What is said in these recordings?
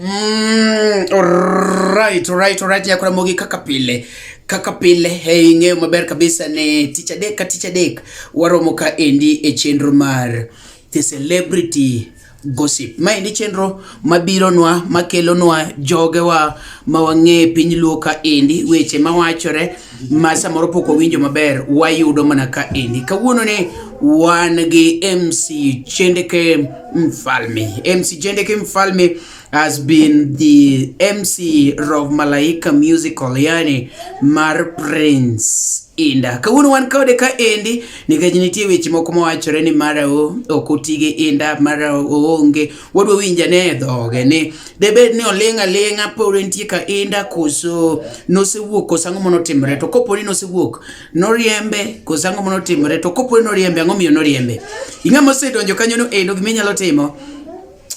Mm, alright, alright, alright. Ya Ramogi kaka pile kaka pile hey, ing'eyo maber kabisa ni tich adek ka tich adek waromo ka endi e chenro mar the celebrity gossip. Ma endi chenro mabironwa makelonwa jogewa ma wang'e piny luo ka endi weche mawachore ma samoro pok owinjo maber wayudo mana ka endi kawuono ni wan gi MC Chendeke Mfalme MC Chendeke Mfalme has been the MC of Malaika Musical yani mar Prince inda kawuono wan kode ka endi nikech nitie weche moko mawachore ni mara ok oti gi inda mara oonge wadwa winja ne e dhoge ni debed ni oling' aling'a pod entie ka inda koso nosewuok koso ang'o mono timre to kopo ni nosewuok noriembe koso ang'o mono timre to kopo ni noriembe ang'o miyo noriembe ing'ama osedonjo kanyo no endo gima inyalo timo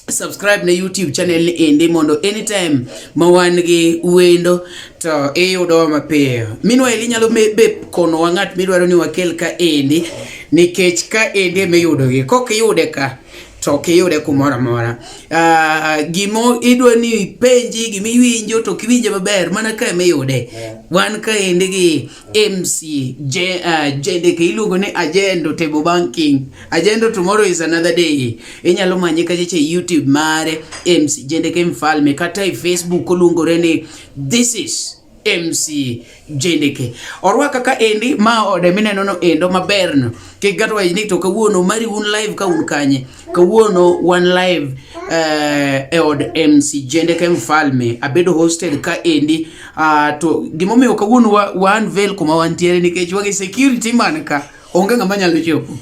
subscribe na youtube channel ni endi mondo anytime ma wan gi wendo to iyudowa mapiyo minwa eli nyalo be konowa ng'at midwaro ni wakel ka endi nikech ka endi emiyudogi kok iyude ka to ok iyude kumoro amora. Uh, gimo idwa ni ipenji gima iwinjo to ok iwinje maber mana ka ema iyude. Yeah. Wan kaendi gi MC je, uh, JDK iluongo ni Agendo Table Banking. Agendo tomorrow is another day. Inyalo manye kachacha e YouTube mare MC JDK Mfalme kata e Facebook oluongore ni this is MC Jendeke. Orwaka ka endi ma ode mineno no endo maber no. Kik gato waji ni to kawuono mari un live ka un kanye. Kawuono one live uh, e od MC Jendeke Mfalme abedo hosted ka endi uh, to gimomiyo kawuono wa, wa unveil kuma wantiere nikech wagi security man ka onge ng'ama nyalo chopo.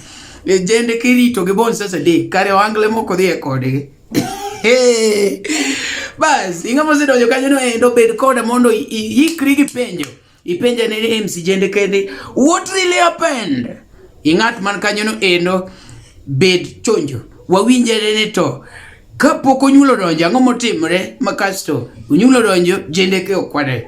E Jendeke rito gi bon sasa de kare wangle moko dhi e kodgi. Bas, ing'ama osedonjo kanyo no endo bed koda mondo ikri gi penjo. Ipenja ne MC Jende kende, what really happened? Ing'at man kanyo no endo bed chonjo. Wawinjere ni to kapok onyulo donjo ang'o motimre ma kasto onyulo donjo jende ke okwade.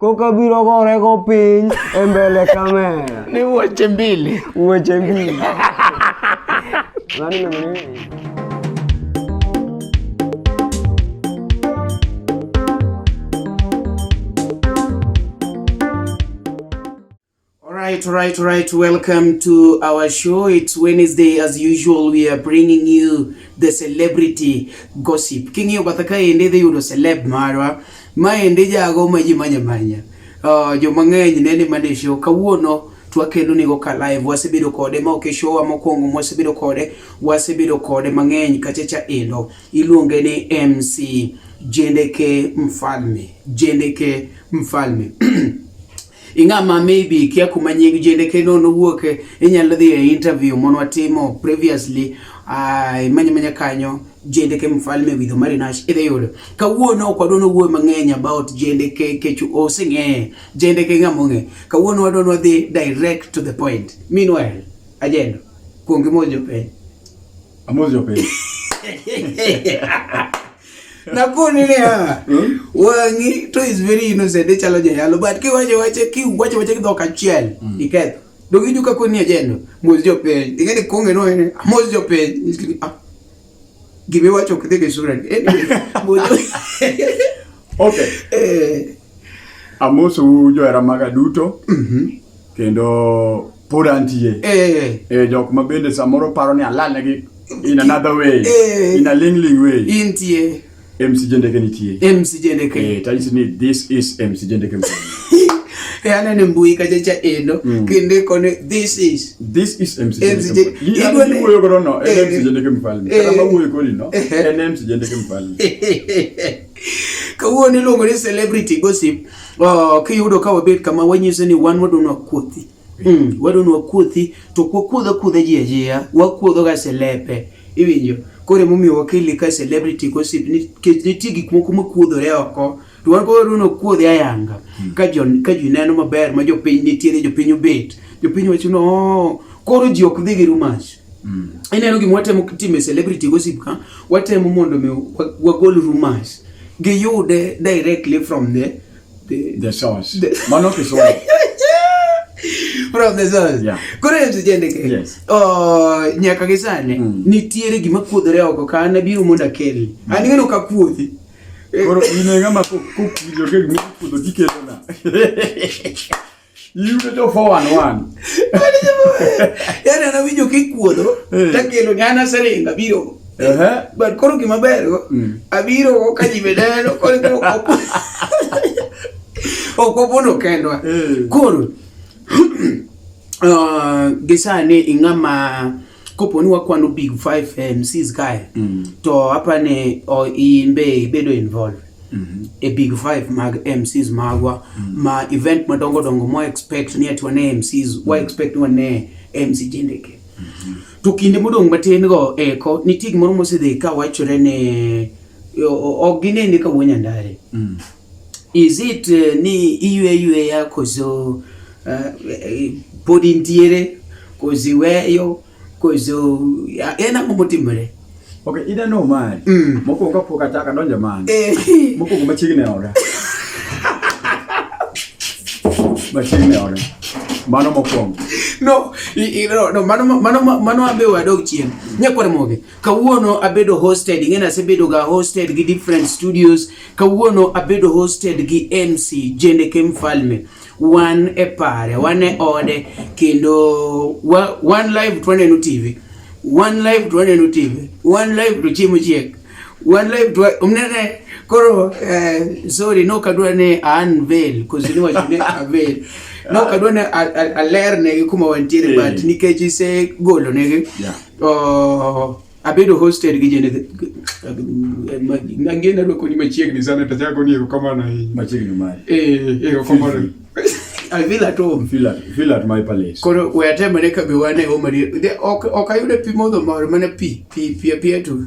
Koka biro gore go piny e mbele kamera. Ni weche mbili. Weche mbili. Nani nani? All right, all right, all right. Welcome to our show. It's Wednesday. As usual, we are bringing you the celebrity gossip. King yo bataka ende de yudo celeb marwa. Ma ende jago ma ji manya manya. Uh, jo mang'eny ne ni mane show kawuono twakelo nigo ka live wasebedo kode ma oke show mokwongo mwasebedo kode wasebedo kode mang'eny kachacha endo iluonge ni MC Jendeke Mfalme. Jendeke Mfalme. ing'ama maybe ikia kuma nying jende kendo nowuoke inyalo dhi e interview mon watimo previously ai manya manya kanyo jende ke mfalme widho marinash idhi yudo kawuono ok wadwa nowuoyo mang'eny about jende ke kech oseng'eye jende ke ng'ama ong'e kawuono wadwa nwadhi direct to the point meanwhile ajendo kuongi mojo piny amojo piny Nakoni niya, hmm? wang'i to is very innocent, ichalo e jayalo, but kiwacho wache, kiwacho wache gi dhok achiel, hmm. iketh. Dog idu ka koni ajendo, mos jo piny. Ing'e ni konge no ene, mos jo piny. Ah, Gimi wacho kidhi gi sura. Anyway, mos jo... Okay. Eh. Amosou johera maga duto mhm. kendo pod antie eh. eh, jok ma bende samoro paro ni alalnegi in another way eh. in a lingling way intie MC Jendeke nitie MC Jendeke eh, tanyisi ni this is MC Jendeke e aneno mbui kacha cha endo mm. kendo ikone this is this is MC Jendeke iwuoyo godo no en MC Jendeke mfalme kata ma wuoyo kodi no en MC Jendeke mfalme Kawuono iluongo ni celebrity gossip. Oh, kiyudo ka wabet kama wanyiso ni wan wadonwa kuothi. Mm, wadonwa kuothi to kwa kuodho kuodho ji ajiya, wakuodho ga selepe. Iwinjo? Kore momiyo wakili ka celebrity gossip ni kech ni tigi kuma kuma kuodhore oko. To wan koro wadonwa kuodhi ayanga. Hmm. Ka jo ka ji neno maber ma jopiny nitiere jopiny obet. Jopiny wacho no oh, koro ji ok dhi gi rumas. Mm. Ineno gima watemo timo e celebrity gossip ka, watemo mondo mi wagol rumors. Giyude directly from the the, the source. The... Mano kisomo. from the source. Yeah. Koro en seche ndike. Yes. Oh, nyaka gi sani mm. nitiere gima kuodhore oko ka an abiro mondo akel. Mm. An ng'eno ka kuodhi. Koro in e ng'ama kokuodho kendo kuodho dikelo na. Yudo to 411. Yaani anawinjo kikuodo eh. takelo nyana seringa biro. Eh. But koro gima bergo mm. abiro ka ji bedeno koro koro kopo. Okopo no kendwa. Eh. Koro uh, gisani ing'ama kopo ni wakwano big five eh, mcs kae mm. to apani oh, in be ibedo involved Mm-hmm. e big five mag mcs magwa mm-hmm. ma event madongo dongo mo expect ni ati wane mcs wa mm-hmm. expect wane mc jendeke to kinde modong' matin go eko nitie gimoro mosedhi ka wachore ne ok ginene ka wuo nyandare Is it uh, ni iywe ywe ya kozo uh, eh, podi ntiere kozo iweyo kozo uh, en ang'o motimore? Okay, ida no mari. Mm. Mokuongo kapok achako adonjo mano. Eh. Mokuongo machiegni oda. machiegni oda. Mano mokuongo. No, i, i, no, no mano mano mano abe wadog chien. Nyakwar moge. Kawuono abedo hosted, ing'eni asebedo ga hosted gi different studios. Kawuono abedo hosted gi MC Jendeke Mfalme. Wan e pare, wan e ode kendo wa, wan live to waneno TV. Wan live to waneno TV. Wan live to chiemo chiek. Wan live to umnene koro eh, sorry no kadwa ne unveil cause ni wacho ne unveil no kadwa ne alerne kuma wantiere but nikech ise golo negi yeah. Oh, abedo hosted gi jende angena rwako ni machiegni sana to chako ni erokamano ahinya machiegni mari eh erokamano I feel at home. Feel at, feel at my palace. Koro we atemore ka be wane home. Ok ok ayude pi modho mor mana pi pi pi pi to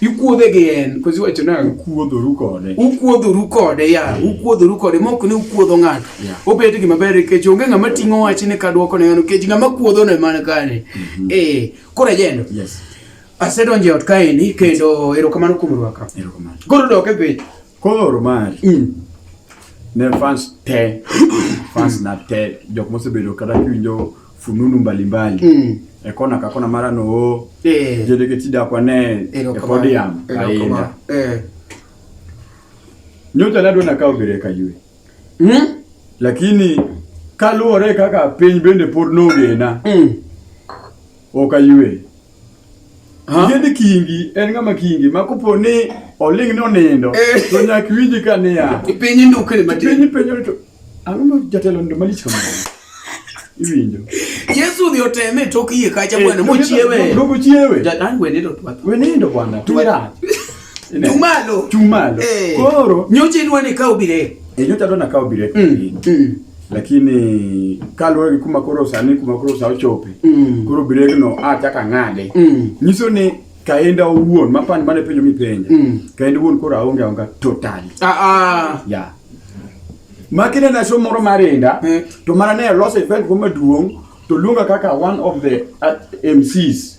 Ikuodhe gi en, kozi wacho nang'o? Ukuodhoru kode. Ukuodhoru kode ya, mm. ukuodhoru kode mok ni ukuodho ng'ato. Yeah. Obet gima ber nikech onge ng'ama ting'o wach ni ka dwoko ne ng'ano nikech ng'ama kuodho ne man kane. Mm -hmm. Eh, koro ajendo. Yes. Asedonjo e ot kaeni kendo erokamano kuom rwaka. Erokamano. Koro dok e piny. Koro mari. Mm. Ne fans te, fans na te, jok mosebedo kata kiwinjo fununu mbalimbali mm. ekona kakona mara no eh. jedeke tida kwa ne ekodiam kainda eh. nyocha nadwa nakawo bere kaywe mm? lakini kaluwore kaka piny bende pod nogena mm. ok aywe Yieni kingi en ng'ama kingi ma kopo ni oling ni onindo eh. to nyaka iwinji ka niya. Piny indukre matin. Piny penyo to ang'o ma jatelo ndo malich kamano. Iwinjo. Yesu dhi oteme e tok yie kacha eh, bwana mochiewe. Dogo chiewe. Jadang wenindo twatho. Wenindo bwana. Twira. Chumalo. Chumalo. Hey. Eh. Koro nyocha idwa ni kaw bire. Eh, nyocha adwa na kaw bire. Mm. Mm. Lakini kaluwore gi kuma koro sani kuma koro sa ochope. Mm. Koro bire no a chaka ng'ade. Mm. Nyiso ni kaenda owuon mapani mane penjo mipenja. Mm. Kaenda owuon koro aonge aonga totally. Ah ah. Yeah. Makine na show moro marenda mm. to mana ne loss event kuma duong' to luonga kaka one of the uh, MCs.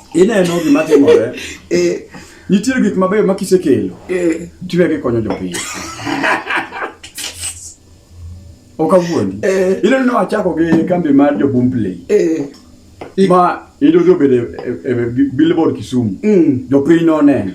ineno gima timore eh. nitiere gik mabeyo ma kisekelo eh. tiwe gikonyo jopiny ok awuondi eh. ineno ni wachako gi kambi mar jobumpley ma idodo obedo e billboard kisumu mm. jopiny noneno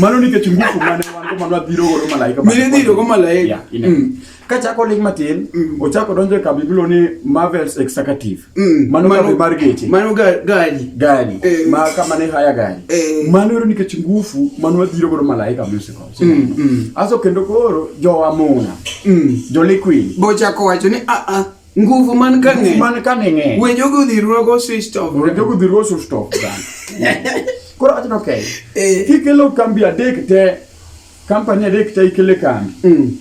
mano nikech ngufu mane wan go mano adhiro godo malaika mine dhiro go malaika mm. Kachako ling matin, mm. ochako donjo e kambi bilo ni Marvel's Executive. Mm. Mano kambi mar geche. Mano gari. Gari. Eh. Ma kama ne haya gari. Eh. Mano yoro nikech ngufu mano wadhiro godo malaika music house. Mm. Mm. Aso kendo koro jo amuna. Mm. Jo liquid. Bochako wacho ni a ah, a ah, nguvu man ka ng'e. Man ka ng'e. We jogo dhirwa go switch off. We jogo dhirwa switch off. Koro achno okay. Eh. Kikelo kambi adek te. Kampani adek te ikele kambi. Mm.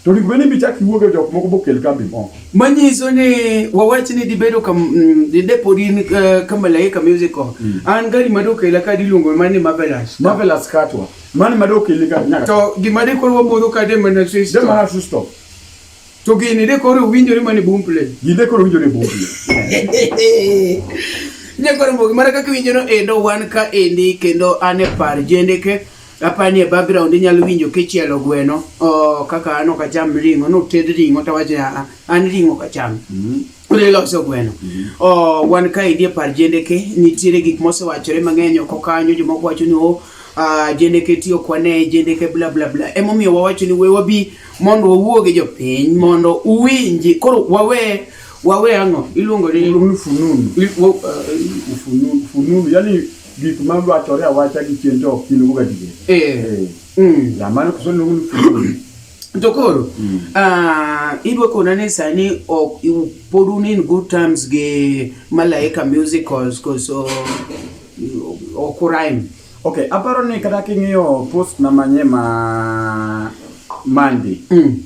To onego bed ni bichak iwuoge e jok moko bokel kambi moko. Manyiso ni wawach ni dibedo kam mm, didepodi in eh, ka Malaika Musical. Mm. An gari ma dokela ka diluongo ma ni Marvelous. Marvelous Katwa. Mani ma dokeli ka nyaka. To gima de koro wamodho ka de mana sister. De mana sister. To gini de koro winjore mani boom play. Gini de koro winjore boom play. Nyakoro mbogi mara kaka winjono endo wan ka endi kendo an e par jendeke. Apani e background inyalo winjo kichielo gweno, oh kaka an ok acham ring'o, noted ring'o to wacho ah, an ring'o ok acham. Mm. Ule loso gweno. Mm -hmm. Oh wan ka idie par jende ke nitiere gik mosewachore mang'eny oko kanyo joma wacho ni oh uh, jende ke tiyo kwane jende ke bla bla bla. Emo miyo wawacho ni we wabi mondo wawuo gi jopiny mondo uwinji koro wawe wawe ang'o iluongo ni fununu. Fununu yani gik ma wachore awacha gi chien to ok gin gadier. Eh. Mm. Ya mano kuso luongo ni fuoni. To koro, mm. ah, idwa kona ni sani ok pod un in good terms gi Malaika Musicals koso ok urime. Okay, aparo ni kata king'iyo post na manye ma Monday. Mm.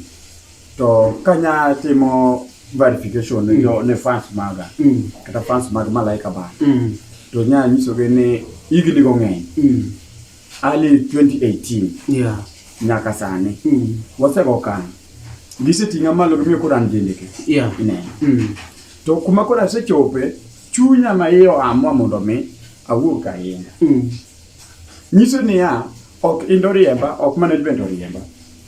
to kanya timo verification ne jo ne fans maga Mm. kata fans mag malaika ba Mm. to nya nyisogi ni higni go ng'eny Mm. early 2018 Yeah. nyaka sani Mm. wasego kan giseting'a malo gimiyo koro an jendeke Yeah. ineno Mm. to kuma koro asechope chunya ma iye oamua mondo mi awuog ahinya Mm. nyiso niya Ok in oriemba, ok mana in bende oriemba.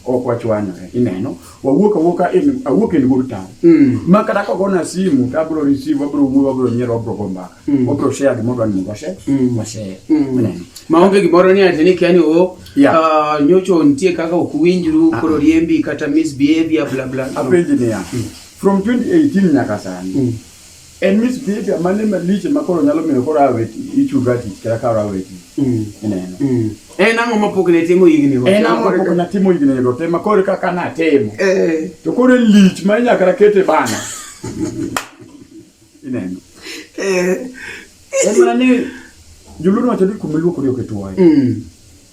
Ok wachwanyore, ineno. Wawuok awuoka in awuok in good time. Mm. Ma kata ka ogona simu to abiro receive, abiro wuoyo, abiro nyiero, abiro go mbaka. Mm. Wabiro share gima odwa ni mondo washare, Mm. washare. Mm. Ineno. maonge gimoro ni ati ni kia ni o Yeah. ah, nyocho nitie kaka ok winjru Ah. koro riembi kata misbehavior bla bla no. Apenji niya, from 2018 nyaka sani, Mm. En misbehavior mane maliche ma koro nyalo miyo koro awe ti- ichunga tich kata ka awe tich. Mm. Ineno. Mm. En ang'o ma pok ne timo higni go? En ang'o ma pok natimo higni go te ma koro kaka natimo. Eh. To koro en lich ma inyaka rakete bana. Ineno. Eh. En mana ni joluo wacho ni kuma iluokori ok ituoye. Mm.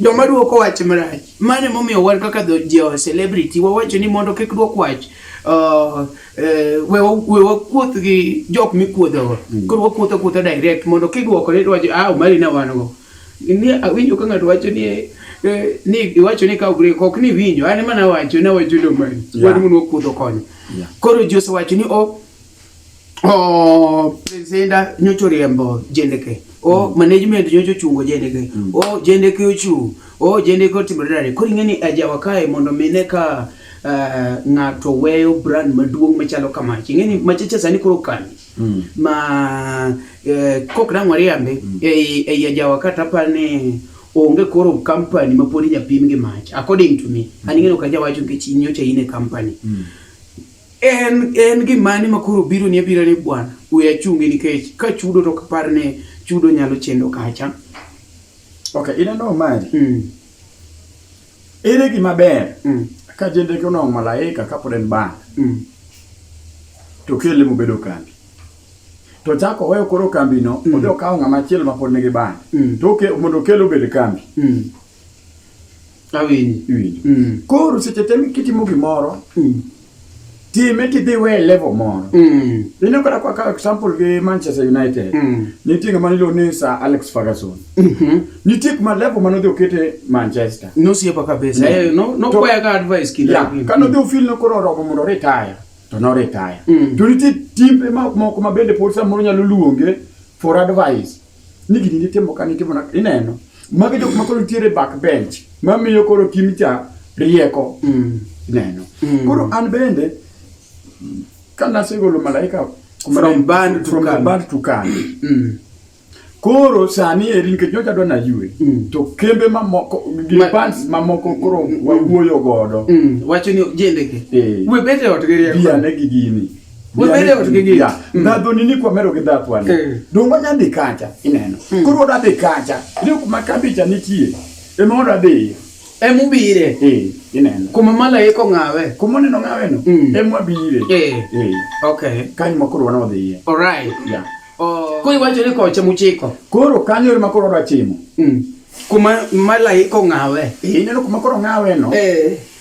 Joma duoko wach marach. Mano e momiyo wan kaka dho jo celebrity wawacho ni mondo kik duok wach. Uh, eh, we wakuoth gi jok mikuodhogo. Mm. Koro wakuoth akuotha direct mondo kiduoko ni wacho ah mali na wan go. Ni awinjo ka ng'ato wacho ni eh, Eh, ni iwacho ni ka ugre kok ni winyo an mana wacho na wacho do mani yeah. wadu mun okudo konyo yeah. koro Jose wacho ni o oh, o presenta nyocho riembo jendeke o mm. management nyocho chungo jendeke mm. o jendeke ochu o jendeke otimo dare koro ing'e ni ajawa kae mondo mine ka uh, ng'ato weyo brand maduong' machalo kamach ing'e ni machacha sani koro kani mm. ma uh, eh, kok nang'o riambe mm. ei, ei ajawa kata par ni onge koro company ma pod inyapim gi mach according to me mm. an ing'e ni ok ajawacho nikech inyocha in e company mm. en en gimane ma koro biro ni abira ni bwana we achungi nikech ka chudo to kapar ni chudo nyalo chendo kacha okay ina no mari mm. ere gima ber mm. ka jende ko no malaika ka pod en ba mm. to kele mu bedo kambi to chako weyo koro kambi no mm. odhi okawo ng'ama chielo ma pod nigi ba mm. to mondo kele obed kambi mm. Awinji. Iwinjo. Mm. Koro seche te kitimo gimoro, Mm. time tidhi iwe level moro. Mm. Ineno kata kwa kawo example gi Manchester United. Mm. Nitie ng'ama niluongo ni Sir Alex Ferguson. Mhm. Nitie kuma level mane odhi okete Manchester. Nosiepa kabisa. Eh, no- nokwaya ka advice kinde Yeah, mang'eny. kane odhi ofil no koro oromo mondo retire to no retire Mm. to nitie timbe ma- moko ma bende pod samoro nyalo luonge for advice ni gini nitimo ka nitimo na ineno magi jok ma koro nitiere back bench ma miyo koro kim cha rieko mm. ineno mm. koro an bende ka nasegolo malaika from band to kan band to kan mm. koro sani eri nikech nyocha dwa nayue mm. to kembe mamoko gi Ma, bands mamoko koro mm. wawuoyo godo mm. wacho ni jendeke eh. we bete ot gi rieko ne gi gini ndhadho nini kwamero gi dhath wani eh. dongo nya dhi kacha ineno hmm. koro oda dhi kacha ni kuma kambicha nitie ema oda dhi ema ubire eh, ineno kuma malaika ong'awe kuma oneno ng'awe no hmm. ema wabire eh. okay kanyo ma koro wana odhiye alright yeah oh. koro iwacho ni koche muchiko koro kanyo ema koro oda chimo hmm. kuma malaika ong'awe ineno kuma koro ong'awe no eh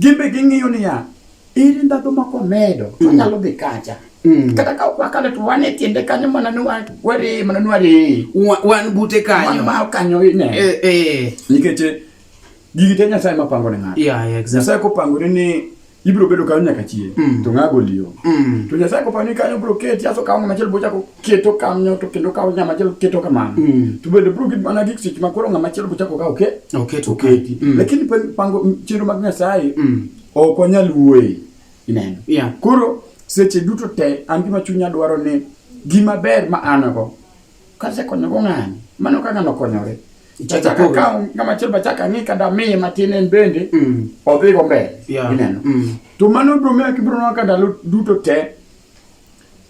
Gin be ging'iyo niya, ere ndhadhu ma komedo mm. wanyalo dhi kacha mm. kata ka wakalo to wan e tiende kanyo mana ni wari mana ni wari wan bute kanyo ma kanyo ine eh, eh. nikech eh, gigi te nyasaye ma pango ne ng'ato yeah, yeah, exactly. nyasaye kopangore ni ibiro bedo kanyo nyaka chieng mm. to ng'ago liyo mm. to nyasaye kopangore kanyo biro keti aso kawo ng'ama chielo bochako keto kanyo to kendo kawo nyama chelo keto kamano mm. to bende bro gin mana gik seche ma koro ng'ama chelo bochako ka oke oketo oketi mm. lakini pango chenro mag nyasaye mm. ok onyal wuoye ineno yeah. koro seche duto te an gima chunya dwaro ni gima ber ma an go kasekonyogo ng'ani mano ka ng'ano okonyore achaka kawo ng'ama chelo bachaka ng'i kada miye matin en bende mm. odhigo mbele yeah. ineno mm. to mano bro miyo kibro nwa ka ndalo duto te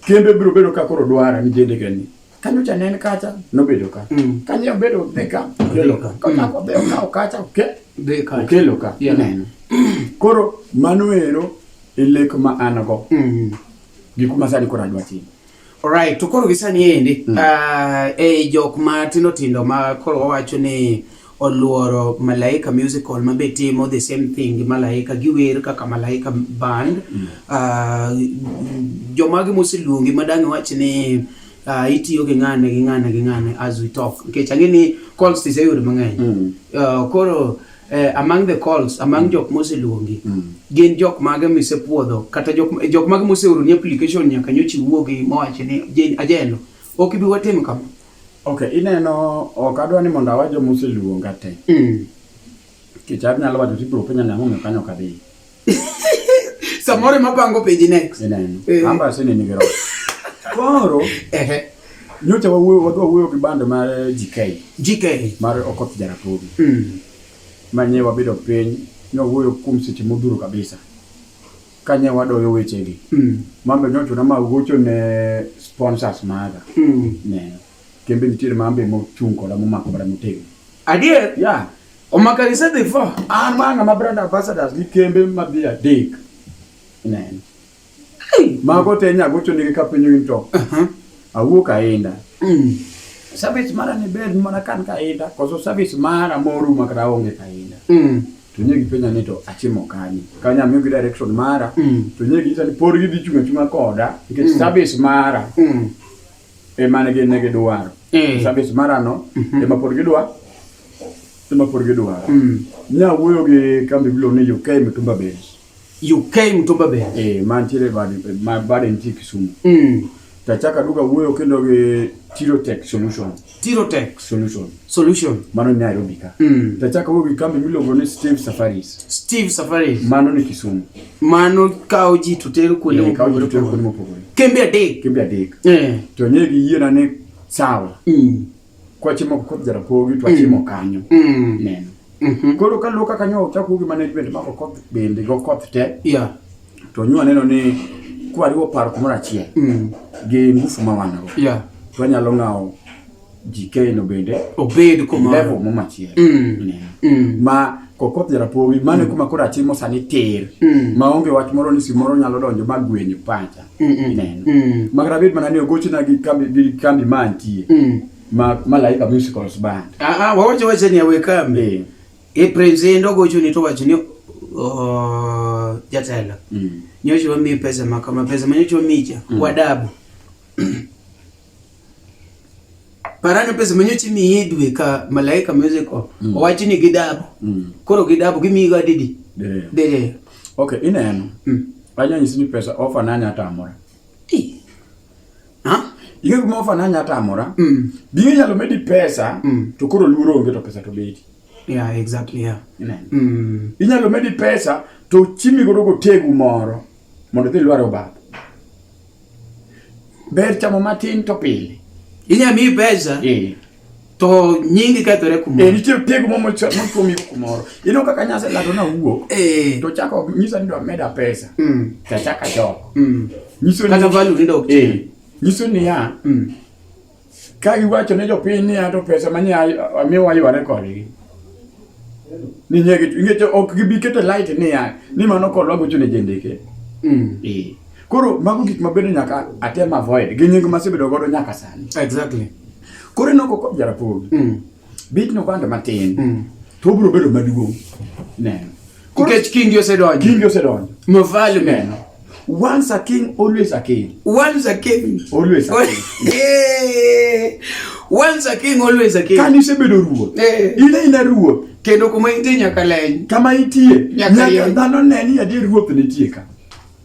Kembe biro bedo ka koro dwara ni jende gani. Kanyo cha nen kacha nobedo ka. Mm. Kanyo bedo be ka. Okelo ka. Kanyo mm. be ka okacha oke. Be ka. Okelo ka. Yeah. Neno. Koro mano ero e lek ma an go. Mm. Gik ma sani koro adwa timo. Alright, to koro gisani endi mm. uh, e jok ma tindo tindo ma koro wawacho ni oluoro Malaika Musical ma be timo the same thing gi Malaika, giwer kaka Malaika band. Mm. Uh, jomagi moseluongi ma dang' iwach ni uh, itiyo gi ng'ane gi ng'ane gi ng'ane as we talk nikech ang'e ni calls tiseyudo mang'eny. Mm. Uh, koro uh, among the calls among mm. jok moseluongi mm. gin jok mage misepuodho kata jok, jok mage moseoroni application nyaka nyochi wuogi mowachi ni ajeno Ok ibi watimo kama. Okay, ineno ok adwa ni mondo awa joma oseluonga te. Mm. Kech anyalo wacho tibiro penja ni ang'o kanyo ok adhi. Samoro ema pango peji next. Ineno. Eh. Amba sini nigi roho. Koro. Ehe. Nyocha wawuoyo wadwa wuoyo gi band mar GK. GK mar Okoth Jarapogi. Mm. Manye wabedo piny nyo wuoyo kuom seche modhuro kabisa. Kanye wadoyo wechegi. Mm. Mambe nyocho na ma gocho ne sponsors maga. Mm. Ne. Kembe nitiere mambe mo chung koda mo mako bara motego. Adier? Yeah. Omaka gise dhi fo? An ma ng'ama brand ambassadors gi kembe ma dhi adek. Ne. Hey. Mago te nya gocho nigi kapinyo into. Uh -huh. Awuok aenda. Mm. Service mara ni bed mana kan kaenda. Koso service mara moru makra onge kaenda. Mm. to nye gipenja ni to achimo kanye kanya amiyogi direction mara mm. to nye ginyisa ni pod gidhi chung' achung'a koda nikech mm. service mara mm. ema ne gin ne gidwaro mm. service mara no mm -hmm. ema pod gidwa ema pod gidwaro mm. nya wuoyo gi kambi bilo ni UK Mitumba Base UK Mtumba Bay. Eh, mantiere bade ma bade nitie Kisumu. Mm. Tachaka duka wuoyo kendo gi Tirotech Solution. Tirotech Solution. Solution. Mano ni Nairobi ka. Mm. Tachaka wuoyo gi kambi miluongo ni Steve Safaris. Steve Safaris. Mano ni Kisumu. Mano kawo ji to tero kuonde eh, mopogore opogore. Kembe adek. Kembe adek. Eh. To nye gi yiena ni sawa. Mm. kwachimo kod jarapogi to achimo mm. kanyo mm. neno mm-hmm. koro kaluo kaka nyo ochako gi management mako koth bende go koth te yeah. to nyo aneno ni kwariwo paro kumoro achiel mm. gi ngufu ma wan go yeah. to anyalo ng'awo jikeno bende obed kumlevel mo machiel mm. mm. ma kokoth jarapogi mane mm. kuma koro atimo sani tir mm. maonge wach moro ni simoro nyalo donjo ma gwenyo pacha ineno mm. makata bed mana ni ogochna gi kambi ma antie mm. ma malaika musicals band ah, ah, wawacho wacha ni awe kambi e president ogochoni to wacho ni jatelo mm. nyocho wamiyi pesa makama pesa manyocho wamicha wadabu Parano pesa manyo chimiye dwe ka malaika music o mm. owachi ni gidabo mm. koro gidabo gimiyi ga didi dede dede okay ineno mm. anya nyisi ni pesa ofa nanya atamora ti ha Ihe kuma ofa nanya atamora mm. biyo nyalo medi pesa mm. to koro luro onge to pesa to bedi yeah exactly yeah ineno mm. inyalo medi pesa to chimi godo go tegu moro mondo dhi lwaro bath Ber chamo matin to pile. Inya mi pesa. Eh. To nyingi kethore kumoro. Eh, nitie piego mo motuomi kumoro. Ino kaka nyasa lado na wuok. Eh. To chako nyisa ni do meda pesa. Mm. Ta chaka jo. Mm. Nyiso ni kata value ni do. Eh. Nyiso ni ya. Mm. Ka giwacho ne jopiny ni ato pesa manye amiwa yware kodgi. Ni nyegi ingecho ok gibi kete light ni ya ni mano kodwa gocho ne jendeke. Mm. Eh. Koro mago gik mabedo nyaka atem avoid gi nying masebedo godo nyaka sani. Exactly. Koro inoko ko jarapogi. Mm. Bit nobando matin. Mm. To obiro bedo maduong'. Neno. Nikech kingi osedonjo. Kingi osedonjo. Mavalu neno. Once a king, always a king. Once a king. Always a king. yeah. Once a king, always a king. Kani isebedo ruoth. Yeah. Ile ina ruoth. Kendo kuma intie nyaka leny. Kama itie. Nyaka dhano ne ni adier ruoth nitie ka.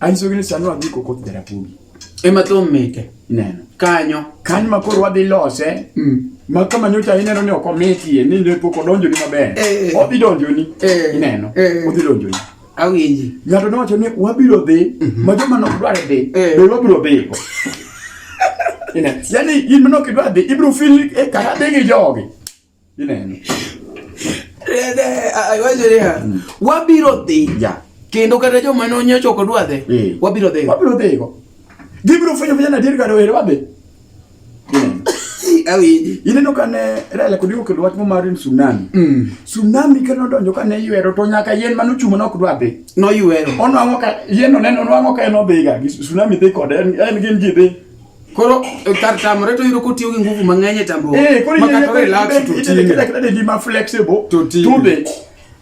Anyiso gini sani wadhi koko dara podi. Ema thum mite. Neno. Kanyo. Kanyo ma koro wadhi lose. Mm. Ma kama nyocha ineno ni ok omitie ni ne pok odonjo ni maber. Eh, eh. Odhi donjo ni. Eh. Ineno. Eh. Odhi donjo ni. Awinji. Ng'ato nowacho ni wabiro dhi mm -hmm. ma joma nok dware dhi. Eh. Be wabiro dhi. Ineno. Yani in manok idwa dhi ibiro feel e eh, kara dhi gi jogi. wabiro dhi kendo kata joma nonyocho ok odwa dhi eh. wabiro dhi wabiro dhi go gibiro fwenyo fwenyo adier kar were wadhi awinji ineno kane rele kod iwo kelo wach mo mar tsunami mm. tsunami ka nodonjo kane ywero to nyaka yien mane ochung' nok dwa dhi noywero onwang'o ka yien oneno onwang'o ka en odhiga tsunami dhi kode en gin ji dhi Koro eh, kar tamore to yudo kotiyo gi nguvu mang'eny e tamruok. Eh, koro yie kore relax to tine. Kida kida di ma flexible to tube.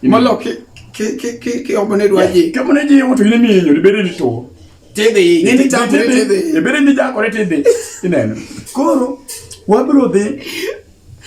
Malo ke ke ke ke ke obone dwaje. Ke obone ji yomo to ine mi nyori bere ni to. Tebe, ne ni tamore tebe. E bere ni jakore tebe. Ineno. Koro wabro dhi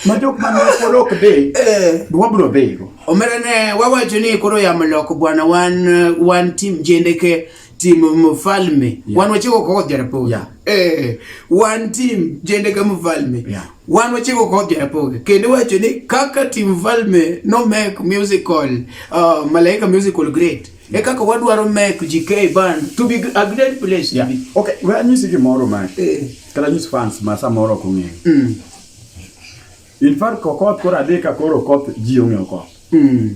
ma jok man pod ok dhi eh. wabro dhigo omera ne wawacho ni koro yamo loko bwana wan wan tim jendeke tim mfalme yeah. wan wachiko kod jarapoge yeah. eh, wan tim jendeke mfalme yeah. wan wachiko kod jarapoge kendo wacho ni kaka tim mfalme no make musical uh, malaika musical great yeah. e kaka wadwaro make gk ban to be a great place yeah. okay well, anyisi gimoro ma eh. kata nyis fans ma samoro ok ong'eyo mm. In fact, kokoth koro adhi ka koro koth ji ong'eyo koth. Mm.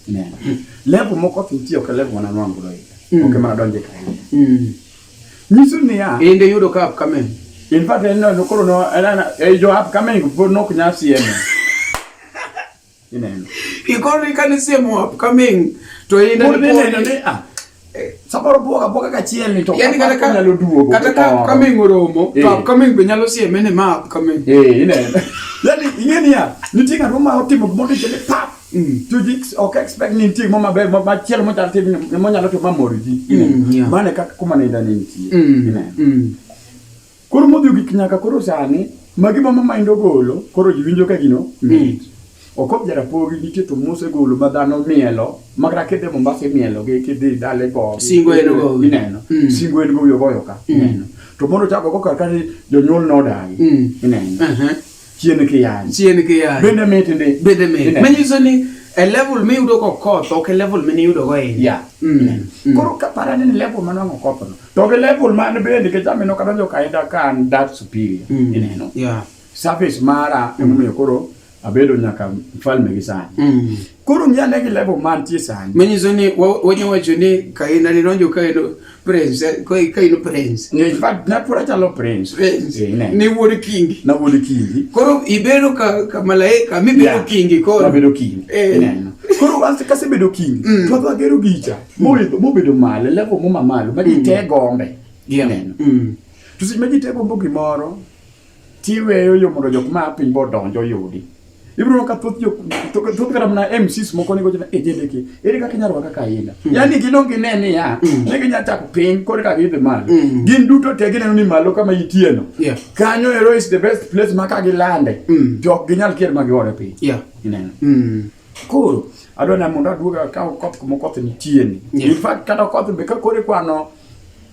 Neno. Level mokoth nitie ok level mana nwango do. Mm. Ok mana donje ka. Mm. Nyiso ni ya. Inde yudo ka upcoming. In fact, en no koro no, en jo upcoming pod nok nyasi eme. Inene. Ikoro ikanisa mu upcoming to inene. Pod inene ni ah. Eh, samoro buoga buoga kachiel ni to yani kata ka nyalo duogo kata ka upcoming oromo to eh. upcoming be nyalo sieme ni ma upcoming eh inene yani ingeni ya nitie ng'at ma otimo gimoro chele pap Mm. to this ok expect ni nitie mama ber ma chiel mo chal tim mo nyalo to mamor ji mm, mane kaka kuma ne ndani nitie mm. Koro modhi ogik nyaka koro sani magi mama ma indo golo koro ji winjo ka gino mit. Okop jarapogi nitie to mose golo ma dhano mielo makra kidhi Mombasa imielo gi kidhi dale go. Singo en go. Ineno. Mm. Singo en go yo goyo ka. Mm. Ineno. To mondo chako go kar kani jonyuol nodagi. Mm. Ineno. Aha. chien kiyany chien kiyany bende mit ndi bende mit manyiso ni e level mi yudo ko koth ok e level mi yudo go e ya mm. mm. koro ka para ni level ma nango koth no to ke level ma ne bende ke jami no kadonjo ka ida ka an that superior mm. ineno ya surface mara mm. emomiyo koro abedo nyaka mfalme gi sani mm. Koro ng'i ane gi level mantie sani. Manyiso ni wanya wacho ni Kaina ne donjo ka en prince, eh, ka en prince. Ne fact na pura chalo prince. Prince. Eh, ne. Ni wuod kingi. Na wuod kingi. Koro ibedo ka ka malaika mi bedo kingi koro. Ma bedo kingi. Eh. Ne. Koro anse ka se bedo kingi. Mm. To agero gicha. Mo mo bedo malo, level mo mamalo, ma mm. te gombe. Gi aneno. Mm. To seche ma ji te gombo gimoro, tiweyo yo mondo jok ma piny bo donjo yudi ibiro ka thoth jok thoth kata mana MCs moko ni gochna ejedeke ere kaka inyalo kaka aina mm. yani gino gine ni ya mm. ne ginya chako piny kore kaka idhi malo mm. gin duto te gineno ni malo kama itieno kanyo ero is the best place ma ka gilande jok ginyal kier ma giore piny ineno koro adwa na mondo aduoga ka koth moko koth nitieni in fact kata koth be ka kore kwano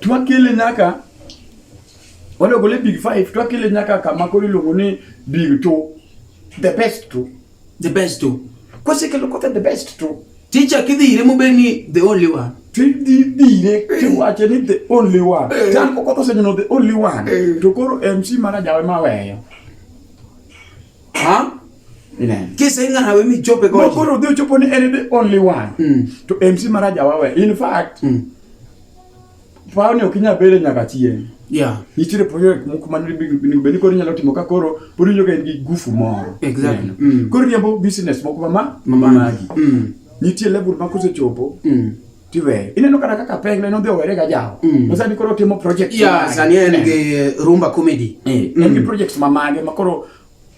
twakele nyaka walogole big five twakele nyaka kama koro iluongo ni big two the best two the best two kwasekelo kothe the best two ticha kidhire mobed ni the only one tidhire kiwache ni the only one chan eh. kokotho senyono the only one eh. to koro mc mana jawe maweyo Ha? Amen. Kisa inga na wemi chope goji. Mokoro udhi uchopo ni en the only one. Mm. To MC Maraja wawe. In fact, mm. pao ni okinya bele nyaka chieng. Yeah. Nitiere project moko man beni koro inyalo timo ka koro pod inyoga in gi gufu moro. Exactly. Mm. Koro riembo business moko mama mama magi. Mm. Nitie level ma kosechopo. Mm. tiweye ineno kata kaka peng ne nodhi owere ga jawo mm. no sani koro timo project ya sani en gi eh. rumba comedy eh, en mm. gi projects ma mage ma koro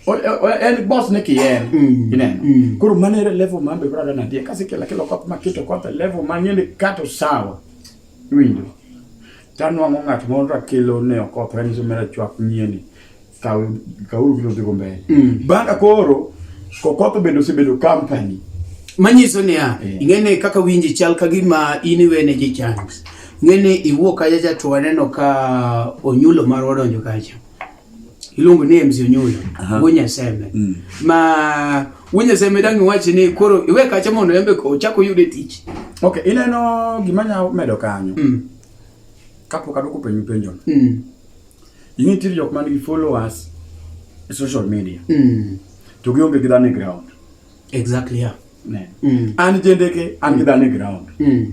en boss ne kiyen mm. ineno mm. koro mano ere level ma be brother nadie kasi kila kila kop ma kito kota level ma ngene kato sawa winjo Tanwang'o ng'at moro rakelo ne okoth ranyisi mera chwak nyieni kaw kauru kilo dhigo mbele mm. banga koro kokoth bende osebedo company manyiso niya yeah. ing'eni kaka winji chal ka gima in iwene ji chance ng'eni iwuok kacha cha to waneno ka onyulo marwa odonjo kacha iluongo ni MC Onyuyo Wunyaseme mm. ma Wunyaseme dang' iwachi ni koro iwe kacha mondo embe ochak oyude tich. Ok, ineno gima nya medo kanyo mm. kapok adwoko penjo penjono mm. ing'e tiri jok man gi followers e social media mm. to gionge gi dhano e ground exactly yeah. ne mm. an jendeke an gi dhano e ground mm.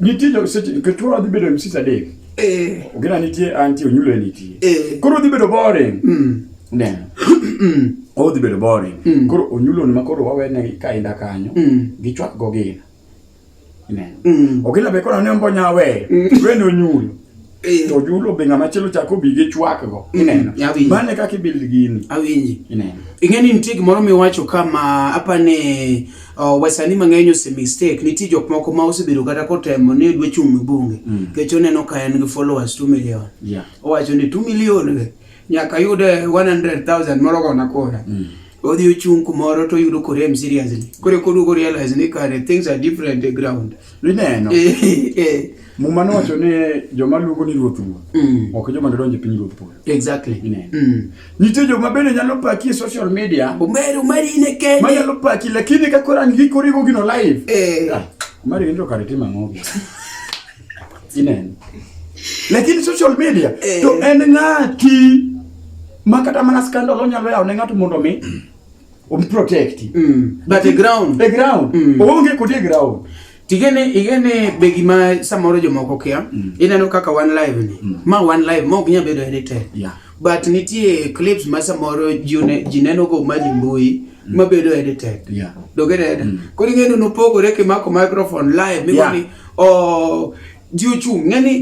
Nitie jo seche nikech koro adhi bedo MC Sadek. Eh. Ogina nitie anti onyulo nitie. Eh. Koro adhi bedo boring. Mm. Ne. Mm. Odhi bedo boring. Mm. Koro onyulo ni makoro wawene ka inda kanyo. Mm. Gichwak go gina. Ne. Mm. Ogina be koro ne ombo nyawe. Mm. Wene onyulo. Eh. to julo be ng'ama chielo chako bi gi chwak go mm, ineno mm, bane kaka ibuild gini awinji ineno ing'eni nitie gimoro miwacho kama apane uh, wasani mang'eny ose mistake nitie jok moko ma osebedo kata kotemo ni dwe chung' e bunge mm. kech oneno ka en gi followers 2 million yeah. owacho ni 2 million nyaka yude 100,000 moro gona kora mm. odhi ochung' kumoro to oyudo korem seriously kore koduogo realize ni kare things are different the ground ineno eh, eh. muma nowacho ni joma luongo ni ruoth ruoth mm. ok joma dodonje piny ruoth polo exactly ineno mm. nitie joma bende nyalo paki e social media umeri umeri ine kende manyalo paki lakini ka kora ngikorigo gino live eh. ah, umeri ine to kare tim ang'ogi Ineno. Lakini social media eh. to en ng'ati ma kata mana scandal onyalo yawo ne ng'ato mondo mi um protect. Mm. But the ground. The ground. Mm. Onge kode ground. Tigene igene be gima samoro jomoko kia mm. ineno kaka one live ni mm. ma one live ma ok nyal bedo edited yeah. but nitie clips ma samoro ji neno go maji mbui mm. mabedo edited yeah. dogereda mm. koro ing'eyo nopogore kimako microphone live migoni yeah. oh, ji ochung' ng'eni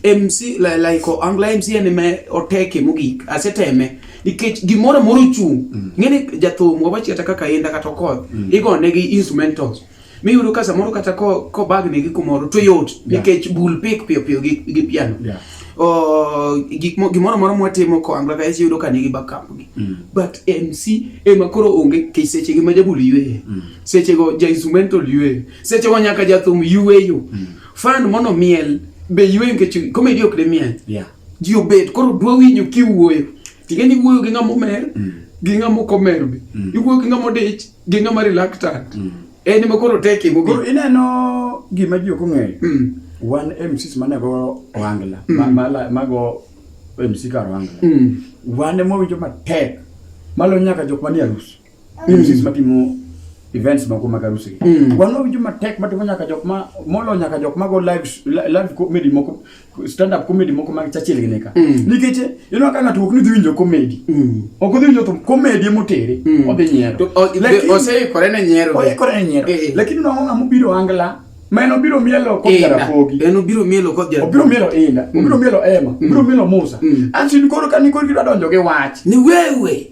mc like angla mc en ema oteke mogik aseteme nikech gimoro amoro ochung' mm. ng'eni jathum wawachi kata kaka inda kata okoth mm. igonegi instrumentals mi yudo ka samoro kata ko ko bag ni gi kumoro to yot nikech bul pik piyo piyo gi gi piano yeah. o gik mo gimoro moro mwatimo ko angla guys yudo ka nigi backup gi mm. but MC e ma koro onge ke seche gi ma jabul yue mm. seche go ja instrumental yue seche go nyaka jathum yue yo mm. fan mono miel be yue nikech comedy ok de miel yeah. ji obet koro dwa winyo kiwuoyo tingeni wuoyo gi ngamo mer mm. gi ngamo komer be mm. iwuoyo gi ngamo dich Gino ma reluctant. Mm. En ma koro tek e mogik. Koro ineno gima ji ok ong'eyo. Mm. Wan MCs mane go Ohangla, mm. ma mago MC kar Ohangla. Mm. Wan ema winjo matek. Malo nyaka jok manie arus. Mm. MCs matimo events moko mag arus. Mm. Wan winjo matek matimo nyaka jok ma molo nyaka jok mago live live comedy moko stand up comedy moko mag Churchill gine ka mm. nikech ineno ka ng'ato ok ni dhi winjo comedy mm. ok odhi winjo thum comedy motere mm. odhi nyiero oseikore ne nyiero oikore ne nyiero eh, eh. lakini nongo ng'ama obiro angla ma en obiro mielo kod jarapogi en obiro mielo kod jarapogi obiro mielo inda mm. obiro mielo ema mm. obiro mielo musa mm. ansin koro ka ni koro gidwa donjo gi wach ni wewe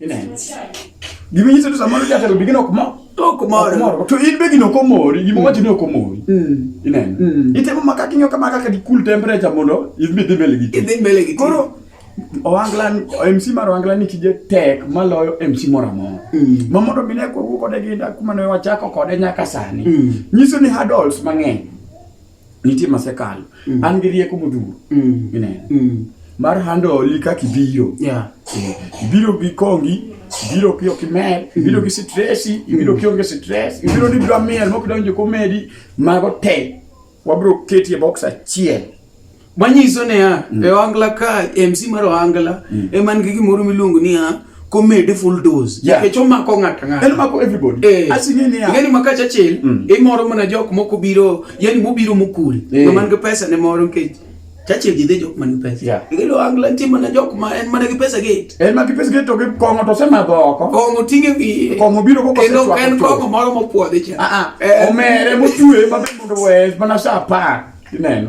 Ineno. Gima nyiso ni samoro jatelo bigino ok mor. Ok mor. To in be gino ok omori, gima wacho ni ok omori. Mm. Ineno. Mm. Itemo maka kinyo kama kaka di cool temperature mondo idhi dhi mbele gi. Idhi mbele gi. Koro Owangla MC mar Owangla ni tije tek maloyo MC moro amora. Mm. Ma mondo mine ko wuok kode gi kuma ne wachako kode nyaka sani. Mm. Nyiso ni hurdles mang'eny. nitie masekalo mm. an gi rieko modhuro mm. ineno mm. mar handoli kaka ibiro yeah. Eh, ibiro gi kongi ibiro ki ok imer mm. ibiro gi stresi mm. ibiro ki onge stress ibiro ni dwa mer mok donjo komedi mago te wabiro ketie box achiel manyiso niya mm. e ohangla ka mc mar ohangla mm. ema nigi gimoro miluongo niya komede full dose nikech omako ng'ato ng'atong'atong'atong'eni makacha achiel mm. imoro mana jok moko biro yani mobiro mokul eh. man gi pesa ne moro nikech chache gidhe jok man gi pesa igilo angla nitie mana jok ma en mana gi pesa gate en mana gi pesa gate to gi kong'o to osemadho oko kong'o ting'e wiye kong'o biro koko kendo en kong'o moro mopuodhi cha ah, ah. Eh. omere mochwe mabe mondo wes mana sa apar Ineno.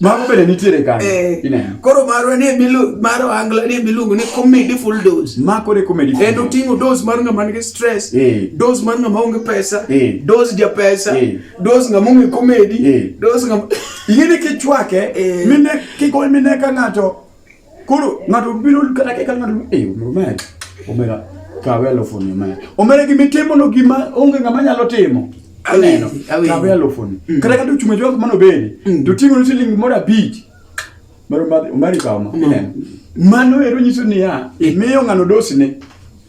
Mago bende nitiere kanyo. Eh. Ineno. Koro marwa ni bilu maro angla ni biluongo ni comedy full dose. Ma kore comedy. En oting'o dose mar ng'ama nigi stress, eh. dose mar ng'ama onge pesa, eh. dose ja pesa, eh. dose ng'ama onge comedy, eh. dose ng'ama Ingine kichwake, eh. mine kiko mine ka ng'ato Koro ng'ato biro kata kaka ng'ato eh omera omera kawe alufu ni omera. Omera gima itimo no gima onge ng'ama nyalo timo. Aneno. Kawe alufu ni. Mm. Kata kata uchunge jwangu mano bedi. Mm. To tingo ni siling moro abich. Maro mari kama. Mano ero nyiso niya, imiyo ng'ano dosine.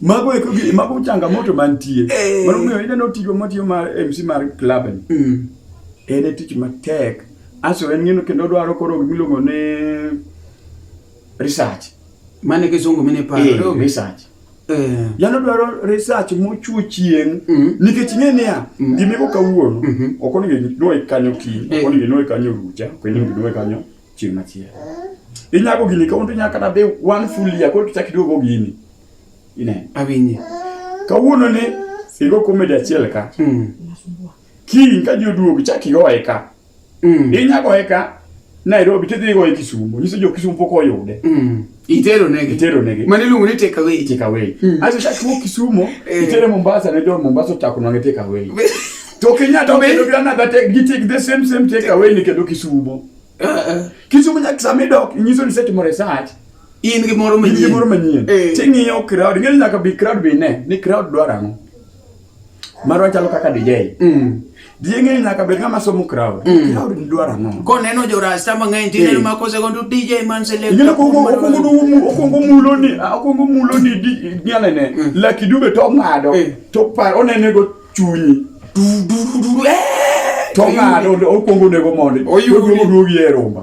Mago eko gi mago changamoto mantie. Eh. Mano miyo ineno tiyo matiyo mar MC mar club ni. Mm. En e tich matek. Aso en ng'ino kendo dwaro koro gimiluongo ni research. Mane kisungu mine paro. Eh, research. Eh. Yano dwaro research mochuo chieng' mm. nikech ing'e niya mm. gimiko kawuono mm -hmm. ok onego inwoe kanyo kiny ok eh. onego inwoe kanyo rucha ok onego inwoe kanyo chieng' machielo. Inyago gini kawuono inyalo kata be one full year koro kichak iduogo gini. Ine. Awinje. Kawuono ni igo komedi achiel ka. Mm. Kiny ka ji oduogo ichak igoye ka. Mm. Inyagoye ka Nairobi tidhi igoye Kisumo. Nyiso jo Kisumo pok oyude. Mm. Itero nege. Itero nege. Mani lungu ni take away. Take away. Mm. Aso sha chuo kisumo. Eh. Itere Mombasa ne jo Mombasa chako nange take away. To Kenya to be do na that take take the same same take away ni kedo kisumo. Uh, uh. Kisumo nyak sami dok nyiso ni set mo research. In gi moro manyien. In gi moro manyien. Eh. Tingi yo crowd ngel nyaka bi crowd bi ne. Ni crowd dwara ngo. marwa chalo kaka DJ mm. DJ ng'eyo nyaka bed ng'ama somo crowd mm. crowd dwaro ang'o koneno jorasta mang'eny tineno eh. ma kosego to DJ man select okwongo mulo ni okwongo mulo ni nyalene mm. laki dube to ong'ado eh. to par onenego chunyi eh! to ong'ado okwongo onego mondi oduogi e romba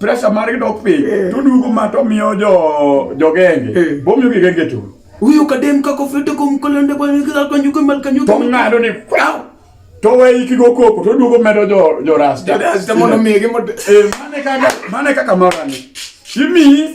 pressure margi dok piny eh. to duogo ma to miyo jo jogenge eh. bomiyo gigenge chulo huyo kadem kako fete kom kolende bwana kila kwa nyuko mal kanyuko to ngado ni kwao to we iki go koko to duogo medo jo jo rasta rasta mono mege mo e eh, mane kaka mane kaka morani kimi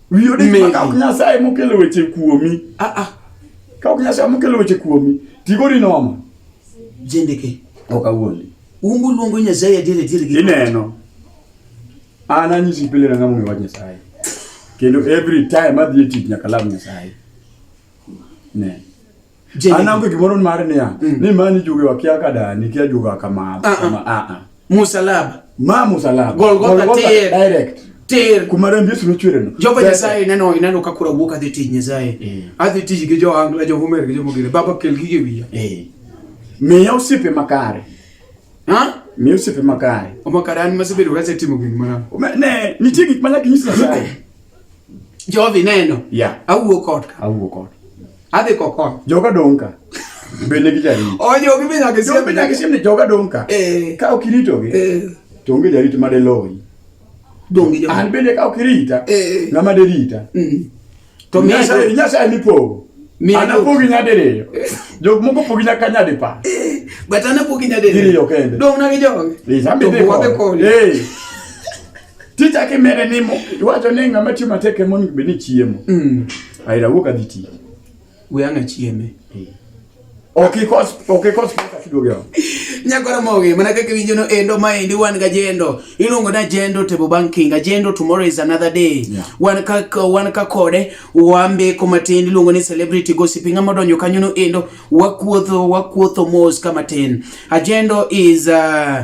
Wiyi odich ma kaok Nyasaye mokelo weche kuomi. Ah ah. Kaok Nyasaye mokelo weche kuomi, tigori nomo. Jendeke. Ok awuondi. Umbu luongo Nyasaye adier adier gi. Ineno. An anyisi pile na ng'ama ong'eyo wach Nyasaye. Kendo every time adhi e tich nyaka lam Nyasaye. Ne. anango gimoro mar niya mm. ni mani juge wakia ka dani kia juga kama ah, ah. kama a ah, a musalaba ma musalaba golgotha tier direct tier kuma rembi yesu nochwere no jehova nyasaye ineno ineno ka kura wuok adhi tich nyasaye eh. adhi tich gi jo angla jo homer gi jo mogire baba kel gige wiya eh. miya osiepe makare ha miya osiepe makare omakare an masebedo kasetimo gik mana ne nitie gik mana kinyisa nyasaye Jovi neno. Yeah. Awuo kod. Awuo kod. Adhi kokon. Joga donka. Bende gi jari. Ojo gi benya gi siem. Benya gi siem ni joga donka. Eh. Ka okirito gi. Eh. To onge jari to made loyi. Dongi joga. An bende ka okirita. Eh. Ngama de rita. Mm. To mi nyasa nyasa ni po. Mi ana po gi nyade reyo. Eh. Jog moko po gi nyaka nyade pa. Eh. Batana po gi nyade reyo. Dong na gi joga. Lisa bende ko. Eh. Ticha kimere ni mo, iwacho ni ng'ama tiyo matek ema onego bed ni chiemo. Mm. Aira wuok adhi tiyo. We ang'a chieme. Eh. Ok ikos, ok ikos pesa kiduogo yao. Nyagora moge, mana kaka winjo no endo ma endi wan ga jendo. Iluongo na jendo tebo banking, ajendo tomorrow is another day. Yeah. Wan ka wan ka kode, wambe ko matin iluongo ni celebrity gossip ng'ama donjo kanyo no endo, wakuotho wakuotho mos kama tin. Ajendo is uh,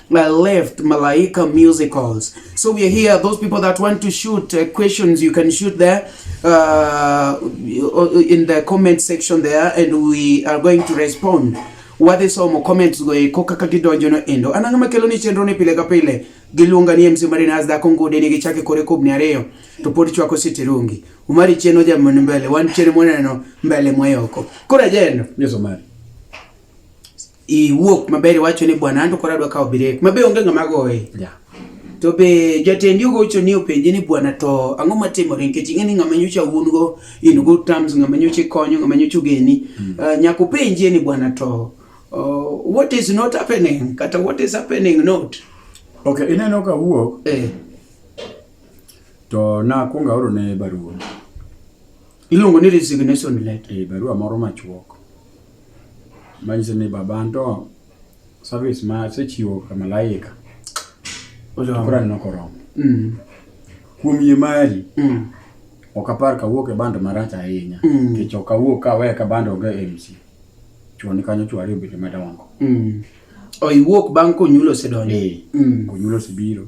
uh, left Malaika Musicals. So we are here. Those people that want to shoot uh, questions, you can shoot there uh, in the comment section there, and we are going to respond. Wadhi somo comments go e koka ka gidonjo no endo. Ananga makelo ni chenro ni pile ka pile. Giluonga ni MC Marina as dhako ngode ni gichake kore kubni ariyo to pod chwako siti rungi. Umari cheno ja mwana mbele, wan cheno mwana no mbele mwayoko. Kura jeno. Yes, Omari. iwuok maber iwacho ni bwana anto koro adwa kawo birek mabe onge ng'ama goye yeah. to be jatendi ogocho ni openje ni bwana to ang'o matimore nikech ing'e ni ng'ama nyocha wuon go in go terms ng'ama nyocha ikonyo ng'ama nyocha ogeni mm. uh, nyaka openjie ni bwana to uh, what is not happening kata what is happening not okay ineno ka wuok eh. to nakwonga oro ne barua Iluongo ni resignation letter. Eh, barua moro machuok manyiso ni baba anto service ma asechiwo ka malaika koro aneno koromo mm. kuom yie mari mm. ok apar kawuok e bando marach ahinya mm. nikech ok awuok kaweya ka bando onge mc chuoni kanyo chwari obete madongo mm. oiwuok bang' konyulo osedonjo eh, mm. konyulo osebiro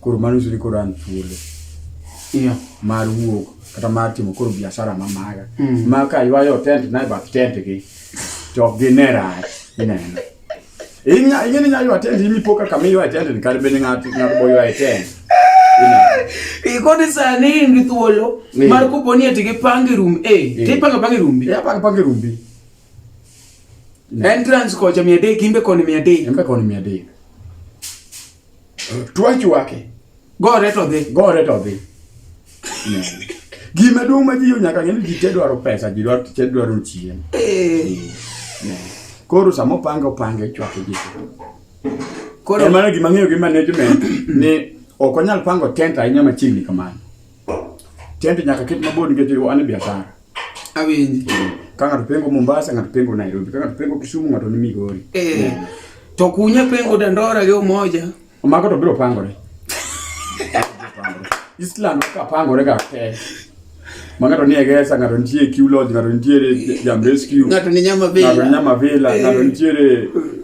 Koro mano nyiso ni koro an thuolo yeah. mar wuok kata mar timo koro biashara ma maga mm. ma ka ywayo tent na e bath tent gi to ok gine rach ineno ing'e ni nyaywa tent imi po kaka miywa e tent ni kar bende ng'ato boywa e tent ikoni sani in gi thuolo mar kopo ni eti gipangi rum e eh, tipanga pangi rumbi e apanga pangi rumbi entrance kocha mia adek imbe koni mia adek imbe koni mia adek Twach wake. Gore to dhi. Gore to dhi. Gima duong' ma ji yo nyaka ng'e ji te dwaro pesa, ji dwaro te dwaro chiemo. Eh. Koro sama opanga opanga ichwake ji. Koro mano gima ng'eyo gi management ni ok onyal pango tent ahinya machiegni kamano. Tent nyaka ket mabor nikech an e biashara. awinji ka ng'ato pengo Mombasa ng'ato pengo Nairobi ka ng'ato pengo Kisumu ng'ato ni Migori eh to kunya pengo Dandora gi Umoja mago to biro pangore Island ka pangore ga te ma ng'ato nie Gesa ng'ato nitie Q Lodge ng'ato nitiere Jam Rescue ng'ato ni Nyama Villa ng'ato ni Nyama Villa ng'ato eh. nitiere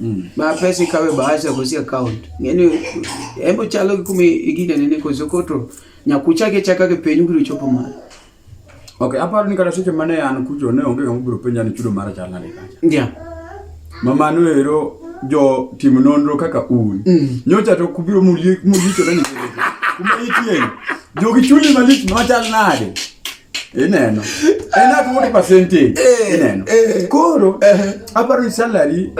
Mm. Ma pesa ikawe bahasha ya kusia account. Ngeni embo chalo kumi igine nene kwa zokoto. Nyakucha ke chaka ke penyu kuru chopo ma. Okay, aparo ni kata seche mane an kucho ne onge ng'ama biro penja ni chudo mara chal nade kacha. Ndia. Mama no ero jo tim nonro kaka un. Mm. Nyocha to kubiro mulie mulicho na ni. Kuma itie. Jogi chuli malich machal nade. ineno en at what percentage eh, ineno eh. koro eh. aparo salary